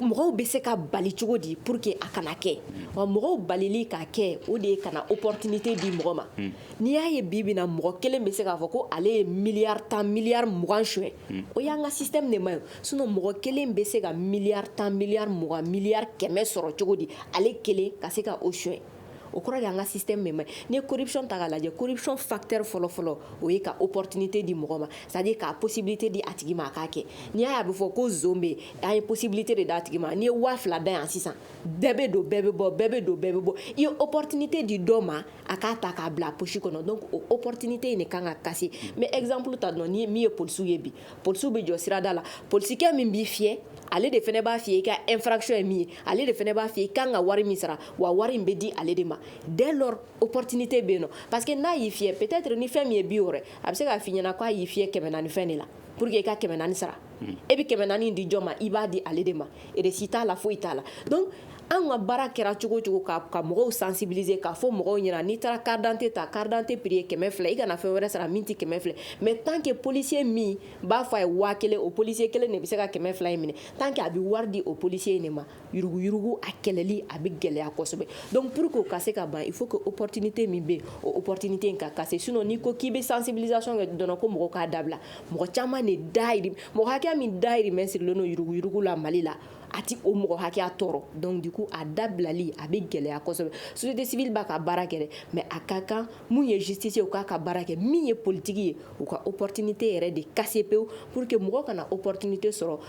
mɔgɔw bɛ se ka bali cogo di pour que a kana kɛ wa mɔgɔw bali ka kɛ o de ye kana o ptibite di mɔgɔ ma n'i y'a ye bi bɛna mɔgɔ kelen bɛ se k'a fɔ ko ale ye miya tan miya mugan son o y'an ka si tɛ nin ma ye sinon mɔgɔ kelen bɛ se ka miliyari tan miliyari mugan miliyari kɛmɛ sɔrɔ cogo di ale kelen ka se ka o suɲɛ o kɔrɔ de an ka système man ɲi corruption ta k'a lajɛ corruption facteur fɔlɔ fɔlɔ o ye ka opportunité di mɔgɔ ma c'est-à-dire ka possibilité di a tigi ma a k'a kɛ n'i y'a ye a bɛ fɔ ko zon bɛ yen an ye possibilité de d'a tigi ma n'i ye waa fila da yan sisan bɛɛ bɛ don bɛɛ bɛ bɔ bɛɛ bɛ don bɛɛ bɛ bɔ i ye opportunité di dɔ ma a k'a ta k'a bila a poche kɔnɔ opportunité in de kan ka casser mais exemple ta dɔrɔn ni min ye polisiw ye bi Polisiw bɛ jɔ sirada la polisikɛ min b'i fiyɛ ale de fana b'a f'i ye i ka infraction ye min ye ale de fana b'a f'i ye i ka kan ka wari min sara wa wari in bɛ di ale de ma dès lors opportunité bɛ yen non parce que n'a y'i fiyɛ peut-être ni fɛn min ye bi wɔɔrɔ a bɛ se k'a fɔ i ɲɛna k'a y'i fiyɛ kɛmɛ naani fɛn de la pour que i ka kɛmɛ naani sara e bɛ kɛmɛ naani di jɔn ma i b'a di ale de ma reçu t'a la foyi t'a la Anw ka baara kɛra cogo o cogo ka mɔgɔw sensibiliser k'a fɔ mɔgɔw ɲɛna n'i taara carte d'identité ta carte d'identité prix ye kɛmɛ fila i kana fɛn wɛrɛ sara min tɛ kɛmɛ fila ye mais tant que polisi min b'a fɔ a ye waa kelen o polisi kelen de bɛ se ka kɛmɛ fila in minɛ tant que a bɛ wari di o polisi in de ma yuruguyurugu a kɛlɛli a bɛ gɛlɛya kosɛbɛ donc pour que o ka se ka ban il faut que opportunité min bɛ yen opportunité in ka casser sinon n'i ko k'i bɛ sensibilisation kɛ dɔrɔn ko mɔgɔw k'a dabila mɔgɔ caman de dahirimɛ mɔgɔ hakɛ min dahirimɛ sirilen don yuruguyurugu la Mali la a tɛ o mɔgɔ hakɛya tɔɔrɔ donc du coup a dabilali a bɛ gɛlɛya kosɛbɛ société civile b'a ka baara kɛ dɛ mais a ka kan min ye justice ye u k'a ka baara kɛ min ye politique ye u ka opportunité yɛrɛ de casser pewu pour que mɔgɔ kana opportunité sɔrɔ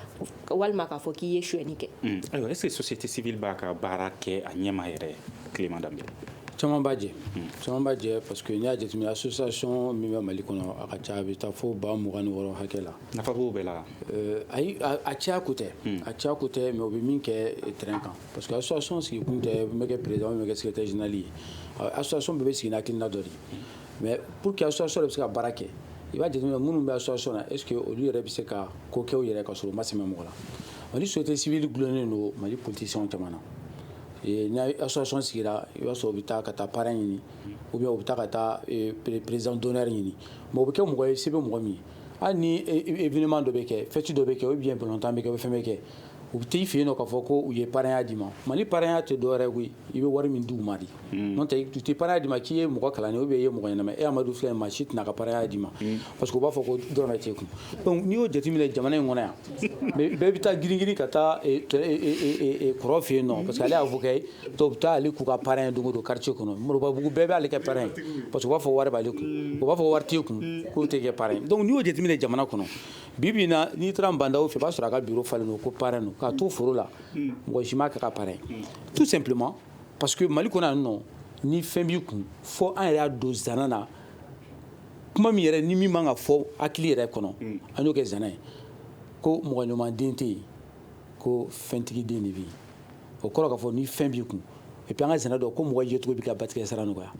walima k'a fɔ k'i ye suɲɛni kɛ hmm. ayiwa est ce que société civile b'a ka baara kɛ a ɲɛma yɛrɛ Clément Dembélé caman b'a jɛ hmm. caman b'a jɛ parce que n'i y'a jateminɛ association min bɛ mali kɔnɔ a ka ca a bɛ taa fo ba mugan ni wɔɔrɔ hakɛ la nafa b'o bɛɛ la Euh, ayi a caya ko tɛ hmm. a caya ko tɛ mais u bɛ min kɛ euh, terrain kan parce que association sigi kun tɛ n bɛ kɛ président n bɛ kɛ secrétaire général ye euh, association bɛɛ bɛ sigi n'hakilina dɔ de ye mais pour que association yɛrɛ bɛ se ka baara kɛ i b'a jateminɛ minnu bɛ association na est ce que olu yɛrɛ bɛ se ka ko kɛ u yɛrɛ ka sɔrɔ u ma sɛmɛ mɔgɔ la mali société civile dulonnen don mali politiciens caman na ni association sigira i b'a sɔrɔ u bɛ taa ka taa parrain ɲini ou bien u bɛ taa ka taa président d'honneur ɲini mais o bɛ kɛ mɔgɔ ye se bɛ mɔgɔ min ye hali ni événement dɔ bɛ kɛ fête dɔ bɛ kɛ ou bien balɔntan bɛ kɛ ou bien fɛn bɛ kɛ u bɛ t'i fɛ yen k'a fɔ ko u ye parrainya d'i ma mali parrainya tɛ dɔwɛrɛ ye koyi i bɛ wari min d'u ma de n'o tɛ u tɛ parrainya d'i ma k'i ye mɔgɔ kalannen ou bien i ye mɔgɔ ɲɛnama e amadu filɛ maa si tɛna ka parrainya d'i ma parce que u b'a fɔ ko dɔrɔmɛ t'e kun n'i y'o jate minɛ jamana in kɔnɔ yan bɛɛ bɛ taa girin ka taa kɔrɔ fɛ yen nɔ parce que ale y'a fɔ kɛ dɔw bɛ taa ale k'u ka parrain ye don o don quartier kɔnɔ Moribabugu bɛɛ b'ale kɛ parrain ye parce que u b'a fɔ wari b'ale kun u b'a fɔ wari t'e kun k'o tɛ kɛ parrain ye donc n'i y'o jateminɛ jamana kɔnɔ bi bi in na n'i taara Nbandaw fɛ i b'a sɔrɔ a ka bureau falen don ko parrain don k'a to foro la mɔgɔ si m'a k'a ka parrain ye tout simplement parce que Mali kɔnɔ yan nɔ ni fɛn b'i kun fo an yɛrɛ y'a don zana na kuma min yɛrɛ ni min man ka fɔ hakili yɛrɛ kɔnɔ an y'o kɛ zana ye ko mɔgɔ ɲuman den tɛ yen ko fɛntigi den de bɛ yen o kɔrɔ k'a fɔ ni fɛn b'i kun et puis an ka zana dɔ ko mɔgɔ yecogo b'i ka batigɛ sara nɔgɔya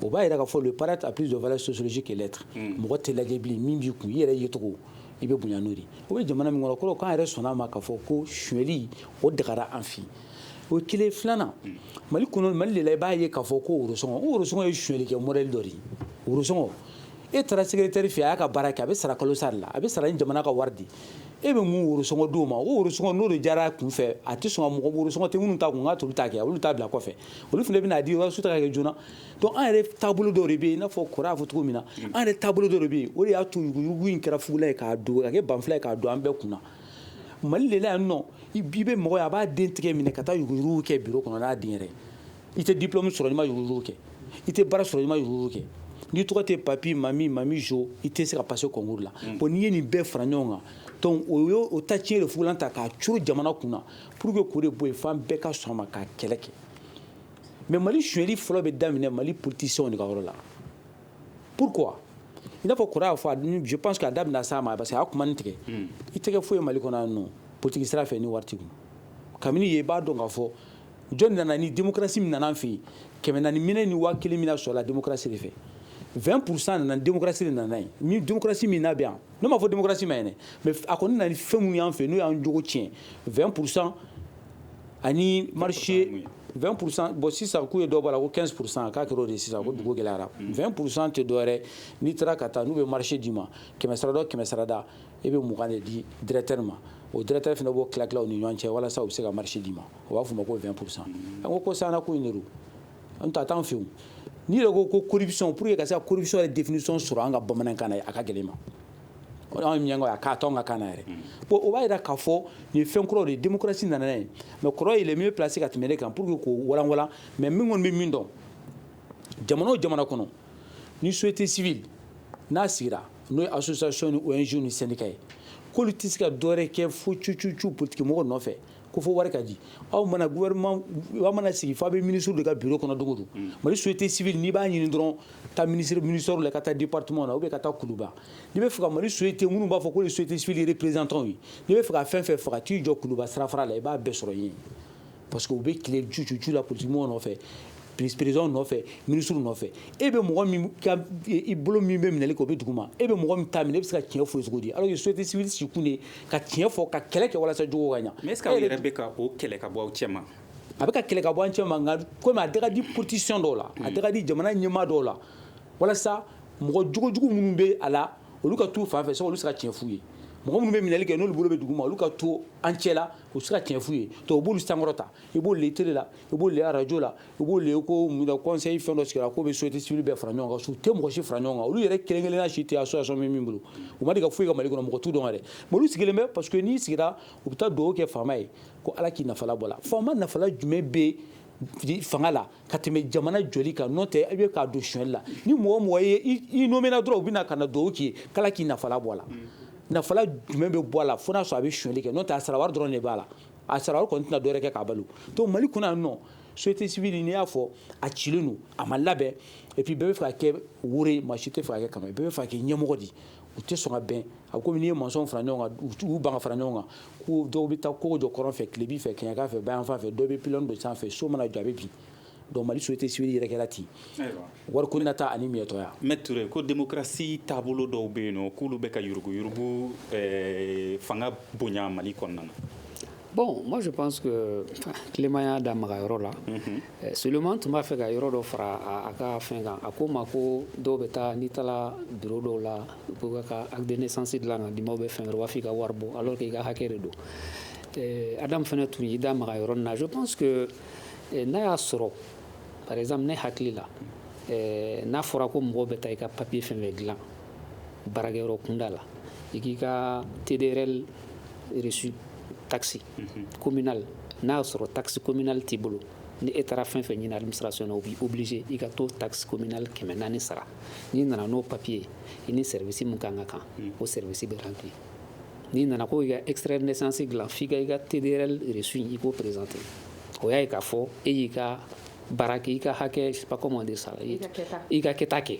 o b'a yira k'a fɔ le paraître a plus de valeur sociologique que l'être hmm. mɔgɔ tɛ lajɛ bilen min b'i kun i yɛrɛ yecogo i bɛ bonya n'o de o bɛ jamana min kɔnɔ kɔrɔ k'an yɛrɛ sɔnna a ma k'a fɔ ko suɲɛli o dagara an fɛ o ye kelen filanan hmm. mali kɔnɔ mali de la i b'a ye k'a fɔ ko worosɔngɔ o worosɔngɔ ye suɲɛli kɛ modèle dɔ de ye worosɔngɔ e taara secrétaire fɛ a y'a ka baara kɛ a bɛ sara kalo sara la a bɛ sara ni jamana ka wari di e bɛ mun worosɔngɔ di o ma o worosɔngɔ n'o de diyara a kun fɛ a tɛ sɔn ka mɔgɔ worosɔngɔ tɛ minnu ta kun ka t'olu ta kɛ olu ta bila kɔfɛ olu fana bɛn'a di walasa u ta ka kɛ joona donc an yɛrɛ taabolo dɔ de bɛ yen i n'a fɔ kɔrɔ y'a fɔ cogo min na an yɛrɛ taabolo dɔ de bɛ yen o de y'a to yuruguyurugu in kɛra fugula ye k'a don ka kɛ banfula ye k'a don an bɛɛ kun na mali de la yan nɔ i bɛ mɔgɔ ye a b'a den tigɛ minɛ ka taa yuruguyurugu kɛ bureau kɔnɔ n'a den yɛrɛ i tɛ diplôme sɔrɔ n'i ma yuruguyurugu kɛ i tɛ baara sɔrɔ n'i ma yuruguyurugu kɛ n'i tɔgɔ tɛ papi mami mami jo i tɛ se ka passer concours la mm. bon n'i ye nin bɛɛ fara ɲɔgɔn kan donc o ye o ta tiɲɛ de fugulan ta k'a curu jamana kun na pour que k'o de bɔ yen f'an bɛɛ ka sɔn a ma k'a kɛlɛ kɛ mais mali sonyɛli fɔlɔ bɛ daminɛ mali politiciens de ka yɔrɔ la pourquoi i n'a fɔ kɔrɔ y'a fɔ je pense que a da bɛna s'a ma parce que a y'a kuma nin tigɛ mm. i tɛ kɛ foyi mali kɔnɔ yan nɔ politiki sira fɛ ni wari t'i kun kabini ye i b'a dɔn k'a fɔ jɔn nana ni démocratie min nana an fɛ yen kɛmɛ naani minɛ ni waa kelen minɛ sɔrɔla démocratie de fɛ 20 pourcent nana démocratie de nana yen ni démocratie min n'a bɛ yan ne m'a fɔ démocratie man ɲi dɛ mais a kɔni nana ni fɛn minnu y'an fɛ n'o y'an jogo tiɲɛ 20 pourcent ani marché 20 pourcent bon sisan k'u ye dɔ bɔ a la ko 15 pourcent k'a kɛra o de ye sisan ko dugu gɛlɛyara 20 pourcent tɛ dɔwɛrɛ n'i taara ka taa n'u bɛ marché d'i ma kɛmɛ sarada o kɛmɛ sarada e bɛ mugan de di directeur ma o directeur fana b'o tila tila u ni ɲɔgɔn cɛ walasa u bɛ se ka marché d'i ma u b'a f'o ma ko 20 pour cent an ko sisan ko in de don an ta t'an fɛ n'i yɛrɛ ko ko corruption pour que ka se ka corruption yɛrɛ définition sɔrɔ an ka bamanankan na a ka gɛlɛn ma o de an ye miɲankaw ye a k'a to an ka kan na yɛrɛ bon o b'a jira k'a fɔ nin ye fɛn kuraw de ye démocratie nana n'a ye mais kɔrɔ il est mieux placé ka tɛmɛ ne kan pour que k'o walanwalan mais ne kɔni bɛ min dɔn jamana o jamana kɔnɔ ni société civile n'a sigira n'o ye association ni ONG ni syndicat ye k'olu tɛ se ka dɔwɛrɛ kɛ fo cucucu politikimɔgɔ nɔfɛ ko fo wari ka di aw mana gouvernement aw mana sigi f'a bɛ ministre de ka bureau kɔnɔ dogo don mm. mali société civile n'i b'a ɲini dɔrɔn taa ministre ministère la ka taa département na ou bien ka taa kuluba n'i b'a fɛ ka mali société minnu b'a fɔ ko nin société civile représentants ye n'i b'a fɛ ka fɛn fɛn faga t'i jɔ kuluba sirafara la i b'a bɛɛ sɔrɔ yen parce que u bɛ tile cucucu la politikimɔgɔw nɔfɛ perezidanw nɔfɛ minisiriw nɔfɛ e bɛ mɔgɔ bolo min bɛ minɛli kɛ o bɛ dugu ma e bɛ mɔgɔ min ta minɛ e bɛ se ka tiɲɛ f'o ye cogo di alors que société civile sigikun de ka tiɲɛ fɔ ka kɛlɛ kɛ walasa jogo ka ɲɛ mais est-ce que aw yɛrɛ bɛ ka o kɛlɛ ka bɔ aw cɛ ma a bɛ ka kɛlɛ ka bɔ an cɛ ma nka komi a da ka di politiciens dɔw la a da ka di jamana ɲɛmaa dɔw la walasa mɔgɔ jogojugu minnu bɛ a la olu ka taa u fan fɛ so olu se ka tiɲɛ f'u ye mɔgɔ minnu bɛ minɛli kɛ n'olu bolo bɛ dugu ma olu ka to an cɛ la u se ka tiɲɛ f'u ye donc u b'olu sankɔrɔta i b'olu ye tele la i b'olu ye arajo la i b'olu ye ko kɔnseyi fɛn dɔ sigira k'o bɛ société civile bɛɛ fara ɲɔgɔn kan su tɛ mɔgɔ si fara ɲɔgɔn kan olu yɛrɛ kelen kelenna si tɛ association min min bolo u ma deli ka foyi kɛ mali kɔnɔ mɔgɔ t'u dɔn yɛrɛ mais olu sigilen bɛ parce que n'i sigira u bɛ taa dugawu kɛ faama ye ko ala k'i nafala bɔ a la faama nafala jumɛn bɛ fanga la ka tɛmɛ jamana jɔli kan n'o tɛ i bɛ k'a don sonyɛli la ni mɔgɔ mɔgɔ ye i nomina dɔrɔn u bɛna na ka na dugawu k'i ye k'ala k'i nafa bɔ a la nafa jumɛn bɛ bɔ a la fo n'a sɔrɔ a bɛ sonyɛli kɛ n'o tɛ a sara dɔrɔn de b'a la a sara kɔni tɛna dɔwɛrɛ kɛ k'a balo donc mali kɔnɔ yan nɔ société civile n'i y'a fɔ a cilen don a ma labɛn epi bɛɛ b'a fɛ ka kɛ woro ye maa si t'a fɛ ka kɛ kama bɛɛ b'a fɛ ka kɛ ɲɛmɔgɔ di u tɛ sɔn ka bɛn a komi n'i ye masɔnw fara ɲɔgɔn kan u ban ka fara ɲɔgɔn kan ko dɔw bɛ taa kogo jɔ kɔrɔn fɛ tilebin fɛ kɛɲɛka fɛ bayanfan fɛ dɔw bɛ pilɔn don sanfɛ so mana jɔ a bɛ bin donc mali société civile yɛrɛ kɛra ten wari ko nata ani miyɛtɔya Maître Touré ko démocratie taabolo dɔw bɛ yen nɔ k'olu bɛ ka yuruguyurugu eh, fanga bonya mali kɔnɔna na Bon, moi je pense que Clément y'a da maga yɔrɔ la. Mm -hmm. Eh, seulement n tun b'a fɛ ka yɔrɔ dɔ fara a ka fɛn kan a ko ma ko dɔw bɛ taa n'i taara bureau dɔw la ka acte de naissance dilan ka d'i ma ou bien fɛn u b'a fɔ i ka wari bɔ alors que i ka hakɛ de don eh, Adam fana tun y'i da maga yɔrɔ nin na je pense que n'a y'a sɔrɔ par exemple ne hakili la n'a fɔra ko mɔgɔw bɛ taa i ka papiye fɛn fɛn dilan baarakɛ yɔrɔ kunda la i k'i ka TDRL reçu taxe kominali n'a y'a sɔrɔ takisi kominali t'i bolo ni e taara fɛn fɛn ɲini alimisasi o b'i obilise i ka to takisi kominali kɛmɛ naani sara n'i nana n'o papiye i ni sɛsi min kan ka kan o sɛ bɛ kan ten n'i nana ko' i ka esrɛ nesansi dilan f'i ka i ka teri resu in i k'o perezte o y'a ye k'a fɔ e y'i ka baara kɛ i ka hakɛ pakɔma de sara i ka kɛta kɛ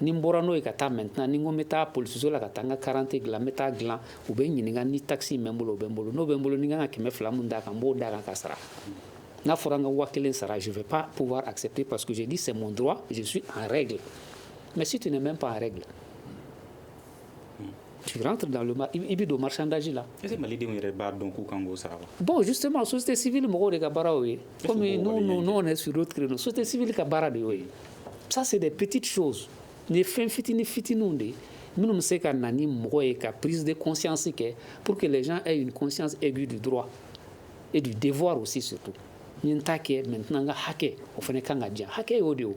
ni bɔra n'o ye ka taa mɛt ni ko bɛ taa pso la ka taa n ka garante dilan bɛ taa dilan u bɛ ɲininka ni takisi bɛ bolo bɛ bolo n'o bɛ bolo ni kan ka kɛmɛ fila min d'a kan n b'o da kan ka sara n'a fɔra an ka waa kelen sara sufɛ pa p a se pe paseke ni sɛ dɔrɔn su a yɛrɛ dilan mɛ si tɛ nin bɛ pan yɛrɛ dilan Tu rentres dans le marché i bɛ don marchandage la est ce que malidenw yɛrɛ b'a dɔn k'u kan k'o sara wa, bon justement société civile mɔgɔw de ka baara y'o ye komi nous nous on est sur d'autres créneaux société civile ka baara de y'o ye ça c'est des petites choses nin ye fɛn fitini fitininw de ye minnu bɛ se ka na ni mɔgɔ ye ka prise de conscience kɛ pour que les gens aient une conscience aiguë du droit et du devoir aussi surtout n ye n ta kɛ maintenant n ka hakɛ o fana ka kan ka di yan hakɛ y'o de ye o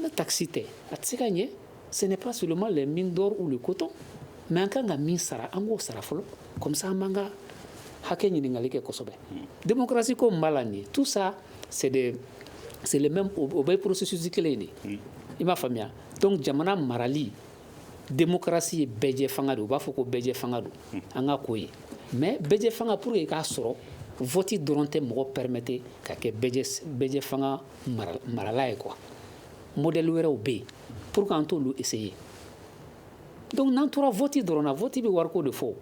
ne tasi tɛ a tɛ se ka ɲɛ sɛnɛ pa soma la min dɔw u de ko kosɔn mɛ an ka kan ka min sara an k'o sara fɔlɔ kɔmisa man kan hakɛ ɲininkakali kɛ kosɛbɛ denmusorasi ko b'a la nin tu sa sɛ sɛ o bɛ porosisusi kelen de i b'a faamuya dɔnku jamana marali démocratie ye bɛɛjɛ fanga de u b'a fɔ ko bɛɛjɛ fanga don an ka k'o ye mais bɛɛjɛ fanga pour que i k'a sɔrɔ vote dɔrɔn tɛ mɔgɔ permettre ka kɛ bɛɛjɛ fanga marala ye quoi modèle wɛrɛw bɛ yen pourquoi an t'olu essayer donc n'an tora vote dɔrɔn na vote bɛ wari ko de fɔ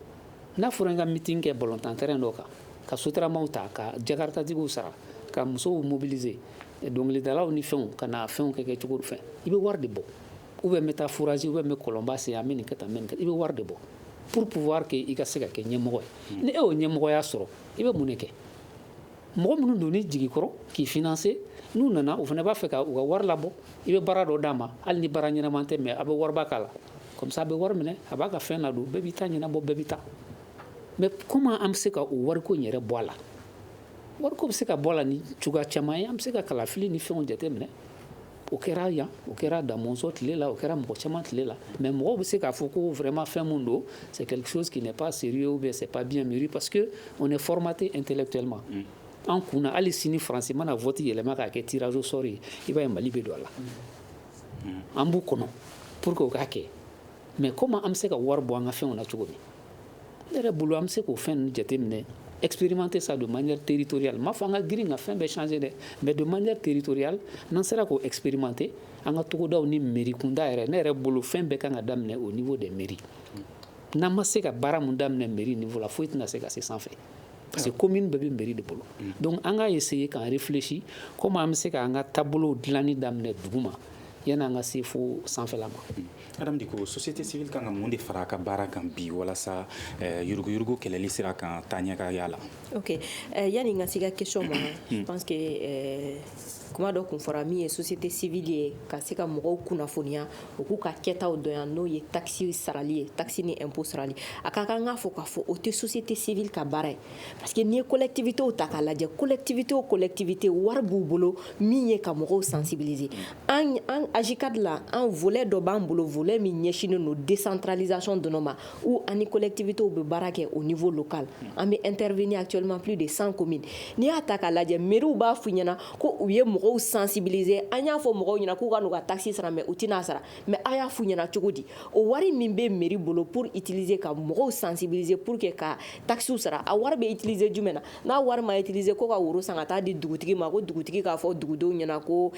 n'a fɔra n ka meeting kɛ balontan terrain in dɔ kan ka sotaramaw ta ka jakaratatigiw sara ka musow mobiliser dɔnkilidalaw ni fɛnw ka na fɛnw kɛ kɛ cogo fɛ i bɛ wari de bɔ ou bien n bɛ taa forage ou bien n bɛ kɔlɔnba sen an bɛ nin kɛ tan n bɛ nin kɛ i bɛ wari de bɔ pour pouvoir que i ka se ka kɛ ɲɛmɔgɔ ye ni e y'o ɲɛmɔgɔya sɔrɔ i bɛ mun de kɛ mɔgɔ minnu don ni jigi kɔrɔ k'i financer n'u nana u fana b'a fɛ ka u ka wari labɔ i bɛ baara dɔ d'a ma hali ni baara ɲɛnama tɛ mais a bɛ wariba k'a la comme ça a bɛ wari minɛ a b'a ka fɛn ladon bɛɛ b'i ta ɲɛnabɔ bɛɛ bɛ taa mais comment an bɛ se ka o wariko in yɛrɛ bɔ a la wariko bɛ se ka bɔ a la ni cogoya caman ye an bɛ se ka kalafili ni fɛnw jate minɛ O kɛra yan o kɛra Da Mɔnzɔn tile la o kɛra mɔgɔ caman tile la mais mɔgɔ bɛ se k'a fɔ ko vraiment fɛn min don c'est quelque chose qui n'est pas sérieux ou bien c'est pas bien mûri parce que on est formaté intellectuellement an kunna hali sini faransi mana vote yɛlɛma k'a kɛ tirage au sort ye i b'a ye Mali bɛ don a la an b'u kɔnɔ pour que u k'a kɛ mais comment an bɛ se ka wari bɔ an ka fɛnw na cogo min ne yɛrɛ bolo an bɛ se k'o fɛn ninnu jateminɛ expérimenter ça de manière territoriale m'a fɔ an ka girin ka fɛn bɛɛ changer dɛ mais de manière territoriale n'an sera k'o expérimenter an ka togodaw ni mairie kunda yɛrɛ ne yɛrɛ bolo fɛn bɛɛ kan ka daminɛ au niveau des mairies n'an ma se ka baara min daminɛ mairie niveau la foyi tɛna se ka se sanfɛ parce que commune bɛɛ bɛ mairie de bolo mm. donc an ka essayer k'an réfléchir comment an bɛ se k'an ka taabolow dilanni daminɛ duguma yan'an ka se fo sanfɛla ma mm. Adam Diko société civile kan ka mun de fara a ka baara kan bi walasa eh, yuruguyurugu kɛlɛli sira kan taaɲɛ ka y'a la ok eh, yani n ka se ka question ma je pense que eh, kuma dɔ kun fɔra min ye société civile ye ka se ka mɔgɔw kunnafoniya u k'u ka kɛtaw dɔn yan n'o ye taxe sarali ye taxe ni impôt sarali a ka kan k'a fɔ k'a fɔ o tɛ société civile ka baara ye parce que n'i ye collectivitéw ta k'a lajɛ collectivité o collectivité wari b'u bolo min ye ka mɔgɔw sensibiliser an aze ka dilan an fɛ dɔ b'an bolo fɛ min ɲɛsinnen don desantralizson dɔrɔn ma u ani kolɛtigiwbiw bɛ baara kɛ o nifɔ kan an bɛ an terirfiniya cɛmanmap de san ko min n'i y'a ta k'a lajɛ miiriw b'a f ɲɛnaɲɛna ko u ye mɔgɔw sansinbirize an y'a fɔ mɔgɔw ɲɛna k'u ka ka tasi sara mɛ u tɛna n'a sara mɛ a y'a f ɲɛnaɲɛna cogo di o wari min bɛ miiri bolo pur itirilizse ka mɔgɔw sansinbirize pur que ka takisiw sara a wari bɛ itirilizse jumɛn na n'a wari ma utiliser ko ka woro san ka taa di dugutigi ma ko dugutigi k'a fɔ dugudenw ɲɛna ko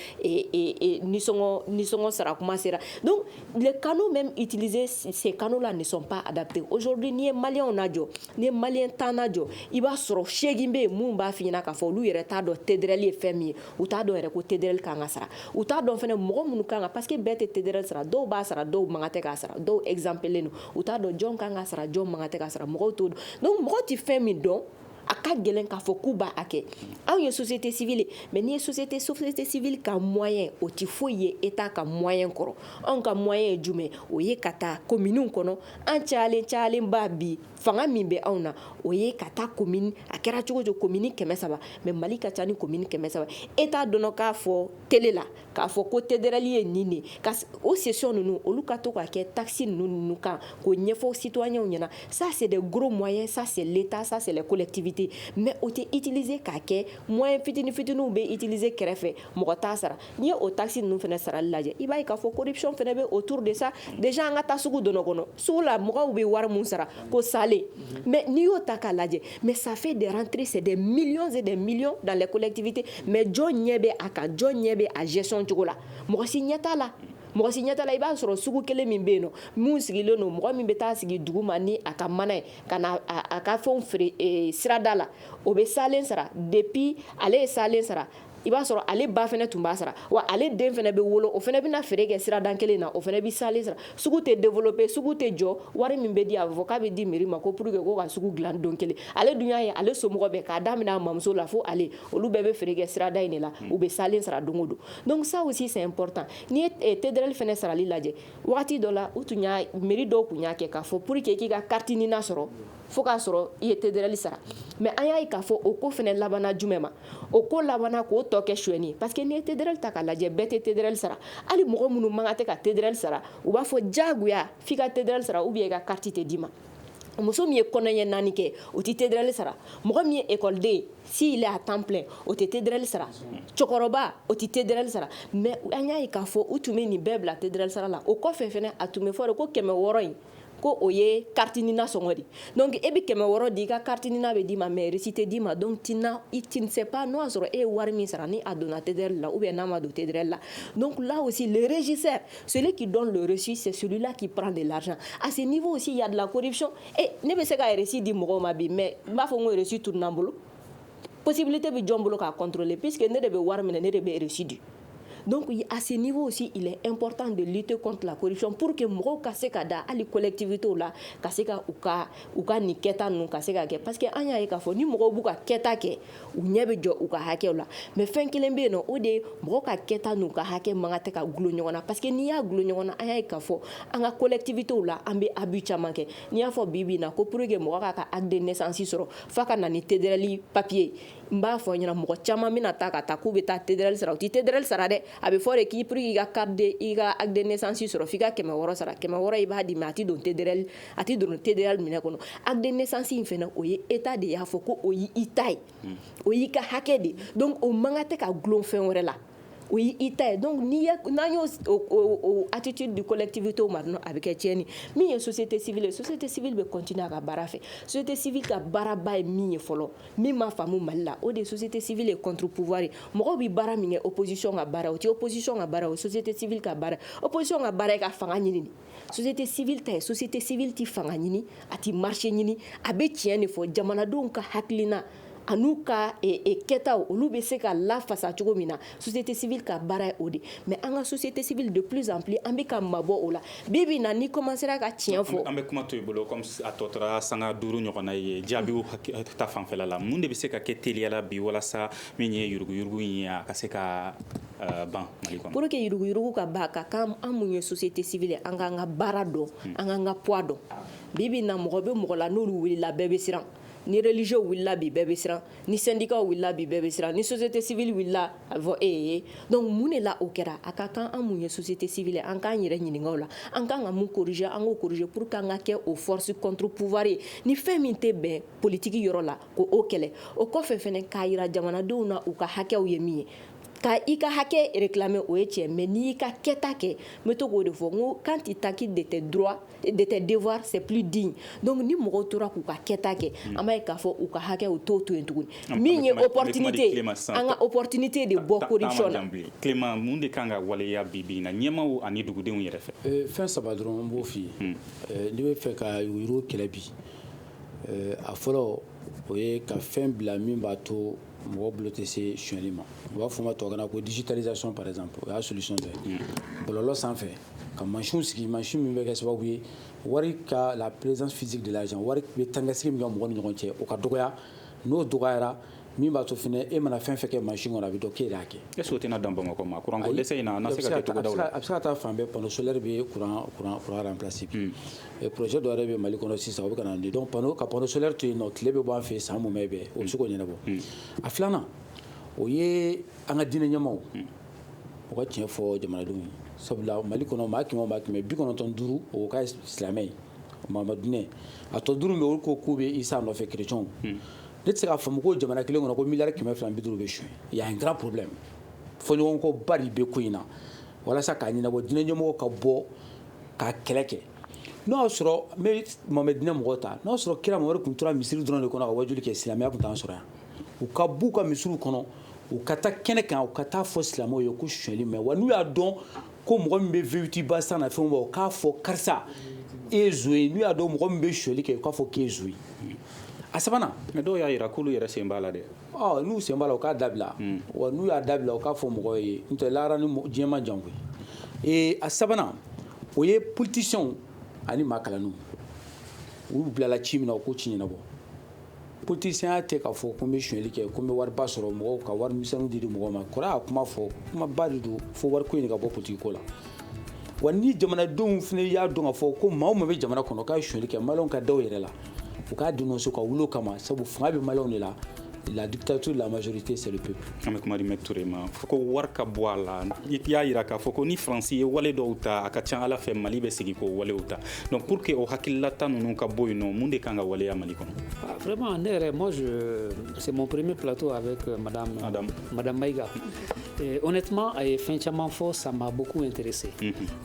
nisɔngɔ sara kuma sera donc les canaux même utilisés ces canaux là ne sont pas adaptés aujourd'hui n'i ye maliyɛnw lajɔ n'i ye maliyɛn tan lajɔ i b'a sɔrɔ seegin bɛ yen minnu b'a f'i ɲɛna k'a fɔ olu yɛrɛ t'a dɔn TDRL ye fɛn min ye u t'a dɔn yɛrɛ ko TDRL kan ka sara u t'a dɔn fɛnɛ mɔgɔ minnu kan ka parce que bɛɛ tɛ TDRL sara dɔw b'a sara dɔw man kan tɛ k'a sara dɔw exemptelen don u t'a dɔn jɔn ka kan ka sara jɔn man kan tɛ ka sara mɔgɔw t'o dɔn donc mɔgɔw tɛ fɛn min dɔn a ka gɛlɛn k'a fɔ k'u b'a kɛ anw ye société civile ye mais n'i ye société société civile ka moyen o tɛ foyi ye Etat ka moyen kɔrɔ anw ka moyen ye jumɛn o ye ka taa commune kɔnɔ an cayalen cayalenba bi fanga min bɛ anw na o ye ka taa commune a kɛra cogo o cogo commune kɛmɛ saba mais Mali ka ca ni commune kɛmɛ saba Etat dɔnna k'a fɔ télé la k'a fɔ ko TDRL ye nin de ka o session ninnu olu ka to ka kɛ taxe ninnu ninnu kan k'o ɲɛfɔ citoyenw ɲɛna ça c'est des gros moyens ça c'est l'État ça c'est les collectivités mais o tɛ utiliser k'a kɛ moyen fitinifitininw bɛ utiliser kɛrɛfɛ mɔgɔ t'a sara n'i ye o taxe ninnu fana sarali lajɛ i b'a ye k'a fɔ corruption fana bɛ autour de ça déjà an ka taa sugu dɔnɔ kɔnɔ Sugu la mɔgɔw bɛ wari min sara ko salen mais n'i y'o ta k'a lajɛ mais ça fait des rentrées c'est des millions et des millions dans les collectivités mais jɔn ɲɛ bɛ a kan jɔn ɲɛ bɛ a gestion cogo la mɔgɔ si ɲɛ t'a la mɔgɔ si ɲɛ t'a la i b'a sɔrɔ sugu kelen min bɛ yen nɔ minnu sigilen don mɔgɔ min bɛ taa sigi duguma ni a ka mana ye ka na a ka fɛn feere sirada la o bɛ salen sara depuis ale ye salen sara i b'a sɔrɔ ale ba fana tun b'a sara wa ale den fana bɛ wolo o fana bɛna feere kɛ sirada kelen na o fana bɛ salen sara sugu tɛ développer sugu tɛ jɔ wari min bɛ di a bɛ fɔ k'a bɛ di mairie ma ko pour que ko ka sugu dila don kelen ale dun y'a ye ale somɔgɔ bɛɛ k'a daminɛ a mamuso la fo ale olu bɛɛ bɛ feere kɛ sirada in de la u bɛ salen sara don o don donc ça aussi c'est important n'i ye TDRL fana sarali lajɛ waati dɔ la u tun y'a mairie dɔw tun y'a kɛ k'a fɔ pour que k'i ka carte NINA sɔrɔ fo k'a sɔrɔ i ye TDRL sara mais an y'a ye k'a fɔ o ko fana labanna jumɛn ma o ko labanna k'o tɔ kɛ suɲɛni parce que n'i ye TDRL ta k'a lajɛ bɛɛ tɛ TDRL sara hali mɔgɔ minnu man kan tɛ ka TDRL sara u b'a fɔ jagoya f'i ka TDRL sara ou bien i ka carte tɛ d'i ma muso min ye kɔnɔɲɛ naani kɛ o tɛ TDRL sara mɔgɔ min ye ekɔliden s'il est à temps plein o tɛ TDRL sara cɛkɔrɔba o tɛ TDRL sara mais an y'a ye k'a fɔ u tun bɛ nin bɛɛ bila TDRL sara la o kɔfɛ fana a tun bɛ fɔ de ko kɛmɛ wɔɔrɔ in ko o ye kariti ni nasɔngɔ de donc e bɛ kɛmɛ wɔɔrɔ di i ka kariti ni bɛ d'i ma mɛ resi tɛ d'i ma donc tina i tinsɛp n'o y'a sɔrɔ e ye wari min sara ni a donna tɛdri la u bɛ n'a ma don tɛdɛrɛ la don lasi rezsɛ seli k'i dɔn resi sɛla k'i pan de la a se n'i b'o si yalala koɔric ne bɛ se ka yɛrɛresi di mɔgɔw ma bi mɛ n b'a fɔ ko yɛrɛresi tu n'an bolo psibi tɛ bɛ jɔn bolo k'a kɔntɔnlen pseke ne de bɛ wari minɛ ne de bɛ resi di donc à ce niveau aussi il est important de lutter contre la corruption pour que mɔgɔw ka se ka da hali collectivités la ka se ka u ka u ka nin kɛta ninnu ka se ka kɛ parce que an y'a ye k'a fɔ ni mɔgɔw b'u ka kɛta kɛ u ɲɛ bɛ jɔ u ka hakɛ la mais fɛn kelen bɛ yen o de ye mɔgɔ ka kɛta n'u ka hakɛ man kan tɛ ka gulon ɲɔgɔn na parce que n'i y'a gulon ɲɔgɔn na an y'a ye k'a fɔ an ka collectivités la an bɛ abus caman kɛ n'i y'a fɔ bi in na ko pour que mɔgɔ k'a ka acte de naissance sɔrɔ f'a ka na ni TDRL papiye ye N b'a fɔ ɲɛna mɔgɔ caman bɛna taa ka taa k'u bɛ taa TDRL sara u tɛ TDRL sara dɛ a bɛ fɔ de ko pour i ka acte de i ka acte de naissance sɔrɔ f'i ka kɛmɛ wɔɔrɔ sara kɛmɛ wɔɔrɔ i b'a di mais a tɛ don TDRL a tɛ don TDRL minɛn kɔnɔ acte de naissance in fana o ye État de y'a fɔ ko o ye i ta ye o y'i ka hakɛ de donc o man kan tɛ ka gulon fɛn wɛrɛ la O y'i ta ye donc n'i ye n'an y'o o attitude di collectivité ma dɔrɔn a bɛ kɛ tiɲɛni ye, min ye société civile ye, société civile bɛ continuer a ka baara fɛ, société civile ka baaraba ye min ye fɔlɔ, min ma faamu Mali la, o de ye société civile ye contre pouvoir ye, mɔgɔw bɛ baara min kɛ opposition ka baara o tɛ opposition ka baara ye, o ye société civile ka baara ye, opposition ka baara ye ka fanga ɲini de ye. société civile ta ye société civile tɛ fanga ɲini a tɛ marché ɲini a bɛ tiɲɛ de fɔ jamanadenw ka hakilina an'u ka e, e, kɛtaw olu bɛ se ka lafasa cogo min na société civile ka baara ye o de mais an ka société civile de plus en plus an bɛ ka mabɔ o la bi bi na n'i commencera ka tiɲɛ fɔ an bɛ kuma to i bolo comme a tɔ tora sanga duuru ɲɔgɔnna ye jaabiw ta fanfɛla la mun de bɛ se ka kɛ teliya la bi walasa min ye yuruguyurugu in ye a ka se ka ban pour que yuruguyurugu ka ban ka kan an mun ye société civile an k'an ka baara dɔn an k'an ka poids dɔn bi bi na mɔgɔ bɛ mɔgɔ la n'olu wulila bɛɛ bɛ siran ni religieux wulila bi bɛɛ bɛ siran ni syndicatw wulila bi bɛɛ bɛ siran ni société civile wulila a fɔ e ye donc mun de la o kɛra a ka kan an mun ye société civile an k'an yɛrɛ ɲininka o la an kan ka mun corriger an k'o corriger pour que an ka kɛ o force contre pouvoir ye ni fɛn min tɛ bɛn politique yɔrɔ la k'o kɛlɛ o kɔfɛ fana k'a jira jamanadenw na u ka hakɛw ye min ye Ka i ka hakɛ réclamer o ye tiɲɛ ye mais n'i y'i ka kɛta kɛ n bɛ to k'o de fɔ n ko quand tu t'acquittes de tes droits et de tes devoirs c'est plus digne donc ni mɔgɔw tora k'u ka kɛta kɛ an b'a ye k'a fɔ u ka hakɛ u t'o to yen tuguni min ye opportunité ye an ka opportunité de bɔ corruption na Clément mun de ka kan ka waleya bi bi in na ɲɛmaaw ani dugudenw yɛrɛ fɛ euh, fɛn saba dɔrɔn n b'o f'i ye hmm. euh, n'i bɛ fɛ ka yuruguyurugu kɛlɛ bi euh, a fɔlɔ o ye ka fɛn bila min b'a to mɔgɔ bolo tɛ se sonyali ma u b'a fɔ ma tubabukan na ko digitalisation par exemple o y'a solution dɔ ye bɔlɔlɔ sanfɛ ka mansinw sigi mansin min bɛ kɛ sababu ye wari ka la présence physique de l'argent wari bɛ tangasigi min kɛ mɔgɔ ni ɲɔgɔn cɛ o ka dɔgɔya n'o dɔgɔyara min b'a to fana e mana fɛn fɛn kɛ mansin kɔnɔ a bɛ dɔn k'e de y'a kɛ est-ce que o tɛna dan Bamakɔ ma kuranko dɛsɛ in na a na se ka kɛ togodaw la a bɛ se ka taa fan bɛɛ panneau solaire bɛ kuran kuran kuran remplacer bi ɛ projet dɔ yɛrɛ bɛ Mali kɔnɔ sisan o bɛ ka na ni donc panneau ka panneau solaire to yen nɔ tile bɛ bɔ an fɛ yen san mumɛ bɛɛ o bɛ se k'o ɲɛnabɔ a filanan o ye an ka diinɛ ɲɛmaaw u ka tiɲɛ fɔ jamanadenw ye sabula Mali kɔnɔ maa kɛmɛ o maa kɛmɛ bi kɔnɔntɔn duuru o ka silamɛ ye Mahamadu diinɛ a tɔ duuru min bɛ olu ko k'u bɛ Isa nɔfɛ kerecɛnw ne tɛ se k'a faamu ko jamana kelen kɔnɔ ko miliyari kɛmɛ fila ni bi duuru bɛ suɲɛ il y a un grand problème fɔɲɔgɔnkɔba de bɛ ko in na walasa k'a ɲɛnabɔ diinɛ ɲɛmɔgɔ ka bɔ ka kɛlɛ kɛ n'o y'a sɔrɔ n bɛ Mahamadu diinɛ mɔgɔw ta n'o y'a sɔrɔ kira Mahamadu tun tora misiri dɔrɔn de kɔnɔ ka wajuli kɛ silamɛya tun t'an sɔrɔ yan u ka b'u ka misiriw kɔnɔ u ka taa kɛnɛ kan u ka taa fɔ silamɛw ye ko sonyali ma wa n'u y'a dɔn ko mɔgɔ min bɛ V huit ba san n'a fɛnw ba u k'a fɔ karisa e ye zon ye n'u y'a dɔn mɔgɔ min bɛ sonyali kɛ u k'a fɔ k'e ye zon ye a sabanan mais dɔw y'a jira k'olu yɛrɛ sen b'a la dɛ Ɔ n'u sen b'a la u k'a dabila wa n'u y'a dabila u k'a fɔ mɔgɔ ye n'o tɛ lahara ni diɲɛ ma jan koyi ee a sabanan o ye politiciens ani maa kalannenw u bilala ci min na u k'o ci ɲɛnabɔ politicienya tɛ k'a fɔ ko n bɛ suɲɛli kɛ ko n bɛ wari ba sɔrɔ mɔgɔw ka wari misɛnnin di mɔgɔw ma kɔrɔ y'a kuma fɔ kuma ba de don fo wari ko in de ka bɔ politique ko la wa ni jamanadenw fana y'a dɔn k'a fɔ ko maa o maa bɛ jamana kɔnɔ k'a ye suɲɛli kɛ maliens ka da u yɛrɛ la u k'a dénoncer ka wuli o kama sabu fanga bɛ maliens de la la dictature de la majorité c'est le peuple an bɛ kuma di Maitre Toure ma fo ko wari ka bɔ a la i y'a jira k'a fɔ ko ni France ye wale dɔw ta a ka ca a la fɛ Mali bɛ segin k'o walew ta donc pour que o hakililata ninnu ka bɔ yen nɔ mun de kan ka waleya Mali kɔnɔ ah, vraiment ne yɛrɛ moi je c'est mon premier plateau avec euh, madame madame, madame Maïga o ne tuma a ye fɛn caman fɔ sanba bo in teri se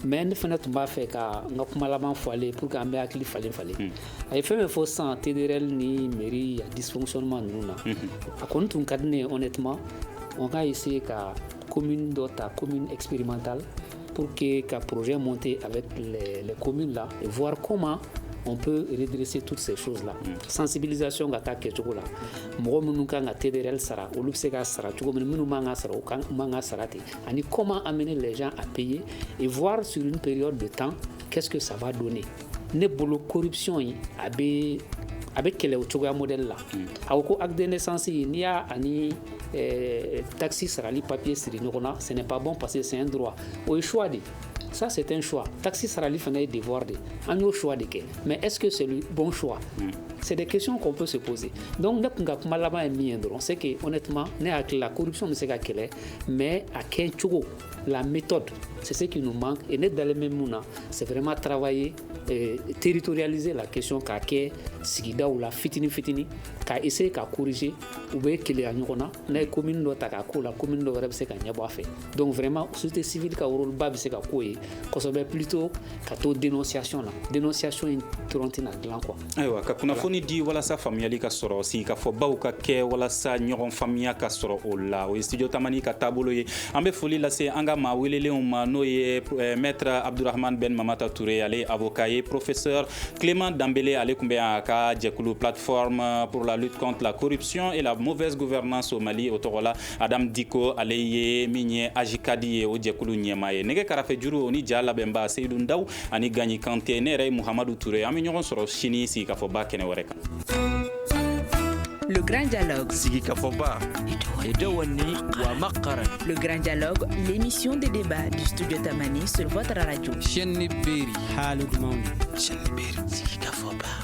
mɛ ne fana tun b'a fɛ ka n ka kuma laban fɔlen p que an bɛ hakili falen falen a ye fɛn bɛ fɔ san teri yɛrɛ ni mi a disɔnma ninnu na a ko n tun ka di ne ye o ne tuma o k'a ye se ka ko min dɔ ta ko min epma ta pour que ka poroe mɔnte a bɛ ko min la wwakoma n bɛ dse tu se so la sansibiilizsion ka taa kɛcogo la mɔgɔ minnu kan ka TDRL sara olu bɛ se ka sara cogo min minnu man ka sara u man ka sara ten ani comment amener les gens à payer et voir sur une période de temps qu'est-ce que ça va donner ne bolo corruption in a bɛ a bɛ kɛlɛ o cogoya modèle la hmm. a ko ko acte de naissance n'i y'a ani eh, taxe sarali papier siri ɲɔgɔn na ce n'est pas bon parce que c'est un droit o ye choix de ye ça c'est un choix taxe sarali fana ye devoir de an y'o choix de kɛ mais est ce que c'est le bon choix mm. c'est des questions qu'on peut se poser donc ne tun ka kuma laban ye min ye dɔrɔn c'est que honnêtement ne hakili la corruption bɛ se ka kɛlɛ mais a kɛ cogo la méthode c'est ce qui nous manque et ne dalen bɛ mun na c'est vraiment travailler euh, territorialiser la question k'a kɛ sigidaw la fitini fitini ka essayer ka corriger u bɛ keleya ɲɔgɔn na n'a ye commune dɔ ta k'a k'o la commune dɔ wɛrɛ bɛ se ka ɲɛbɔ a fɛ donc vraiment société civile ka rôle ba bɛ se ka k'o ye kosɛbɛ plutôt ka to dénonciation na dénonciation in dɔrɔn tɛn'a dilan quoi ayiwa ka kunnafoni di walasa faamuyali ka sɔrɔ sigikafɔbaw ka kɛ walasa ɲɔgɔn faamuya ka sɔrɔ o la o ye studio tamani ka taabolo ye an bɛ foli lase an ka maa welelenw ma n'o ye eh, maître abdourahmane ben mamata toure ale ye avocat ye professeur clément dambele ale tun bɛ yan a ka jɛkulu plateforme pour la lutte contre la corruption et la mauvaise gouvernance au mali o tɔgɔ la adam dicko ale ye min ye AJCAD ye o jɛkulu ɲɛmaa ye nɛgɛ karafe juru o ni ja labɛnba seyidu daw ani ganɲi kante ne yɛrɛ ye muhamadu ture ye an bɛ ɲɔgɔn sɔrɔ sini sigikafɔba kɛnɛ wɛrɛ kan Le Grand Dialogue. Sigi Kafoba. Edouani Wamakara. Le Grand Dialogue, l'émission de débat du studio Tamani sur votre radio. Chaîne Beri. Halou Mamoun. Chaîne Beri. Sigi Kafoba.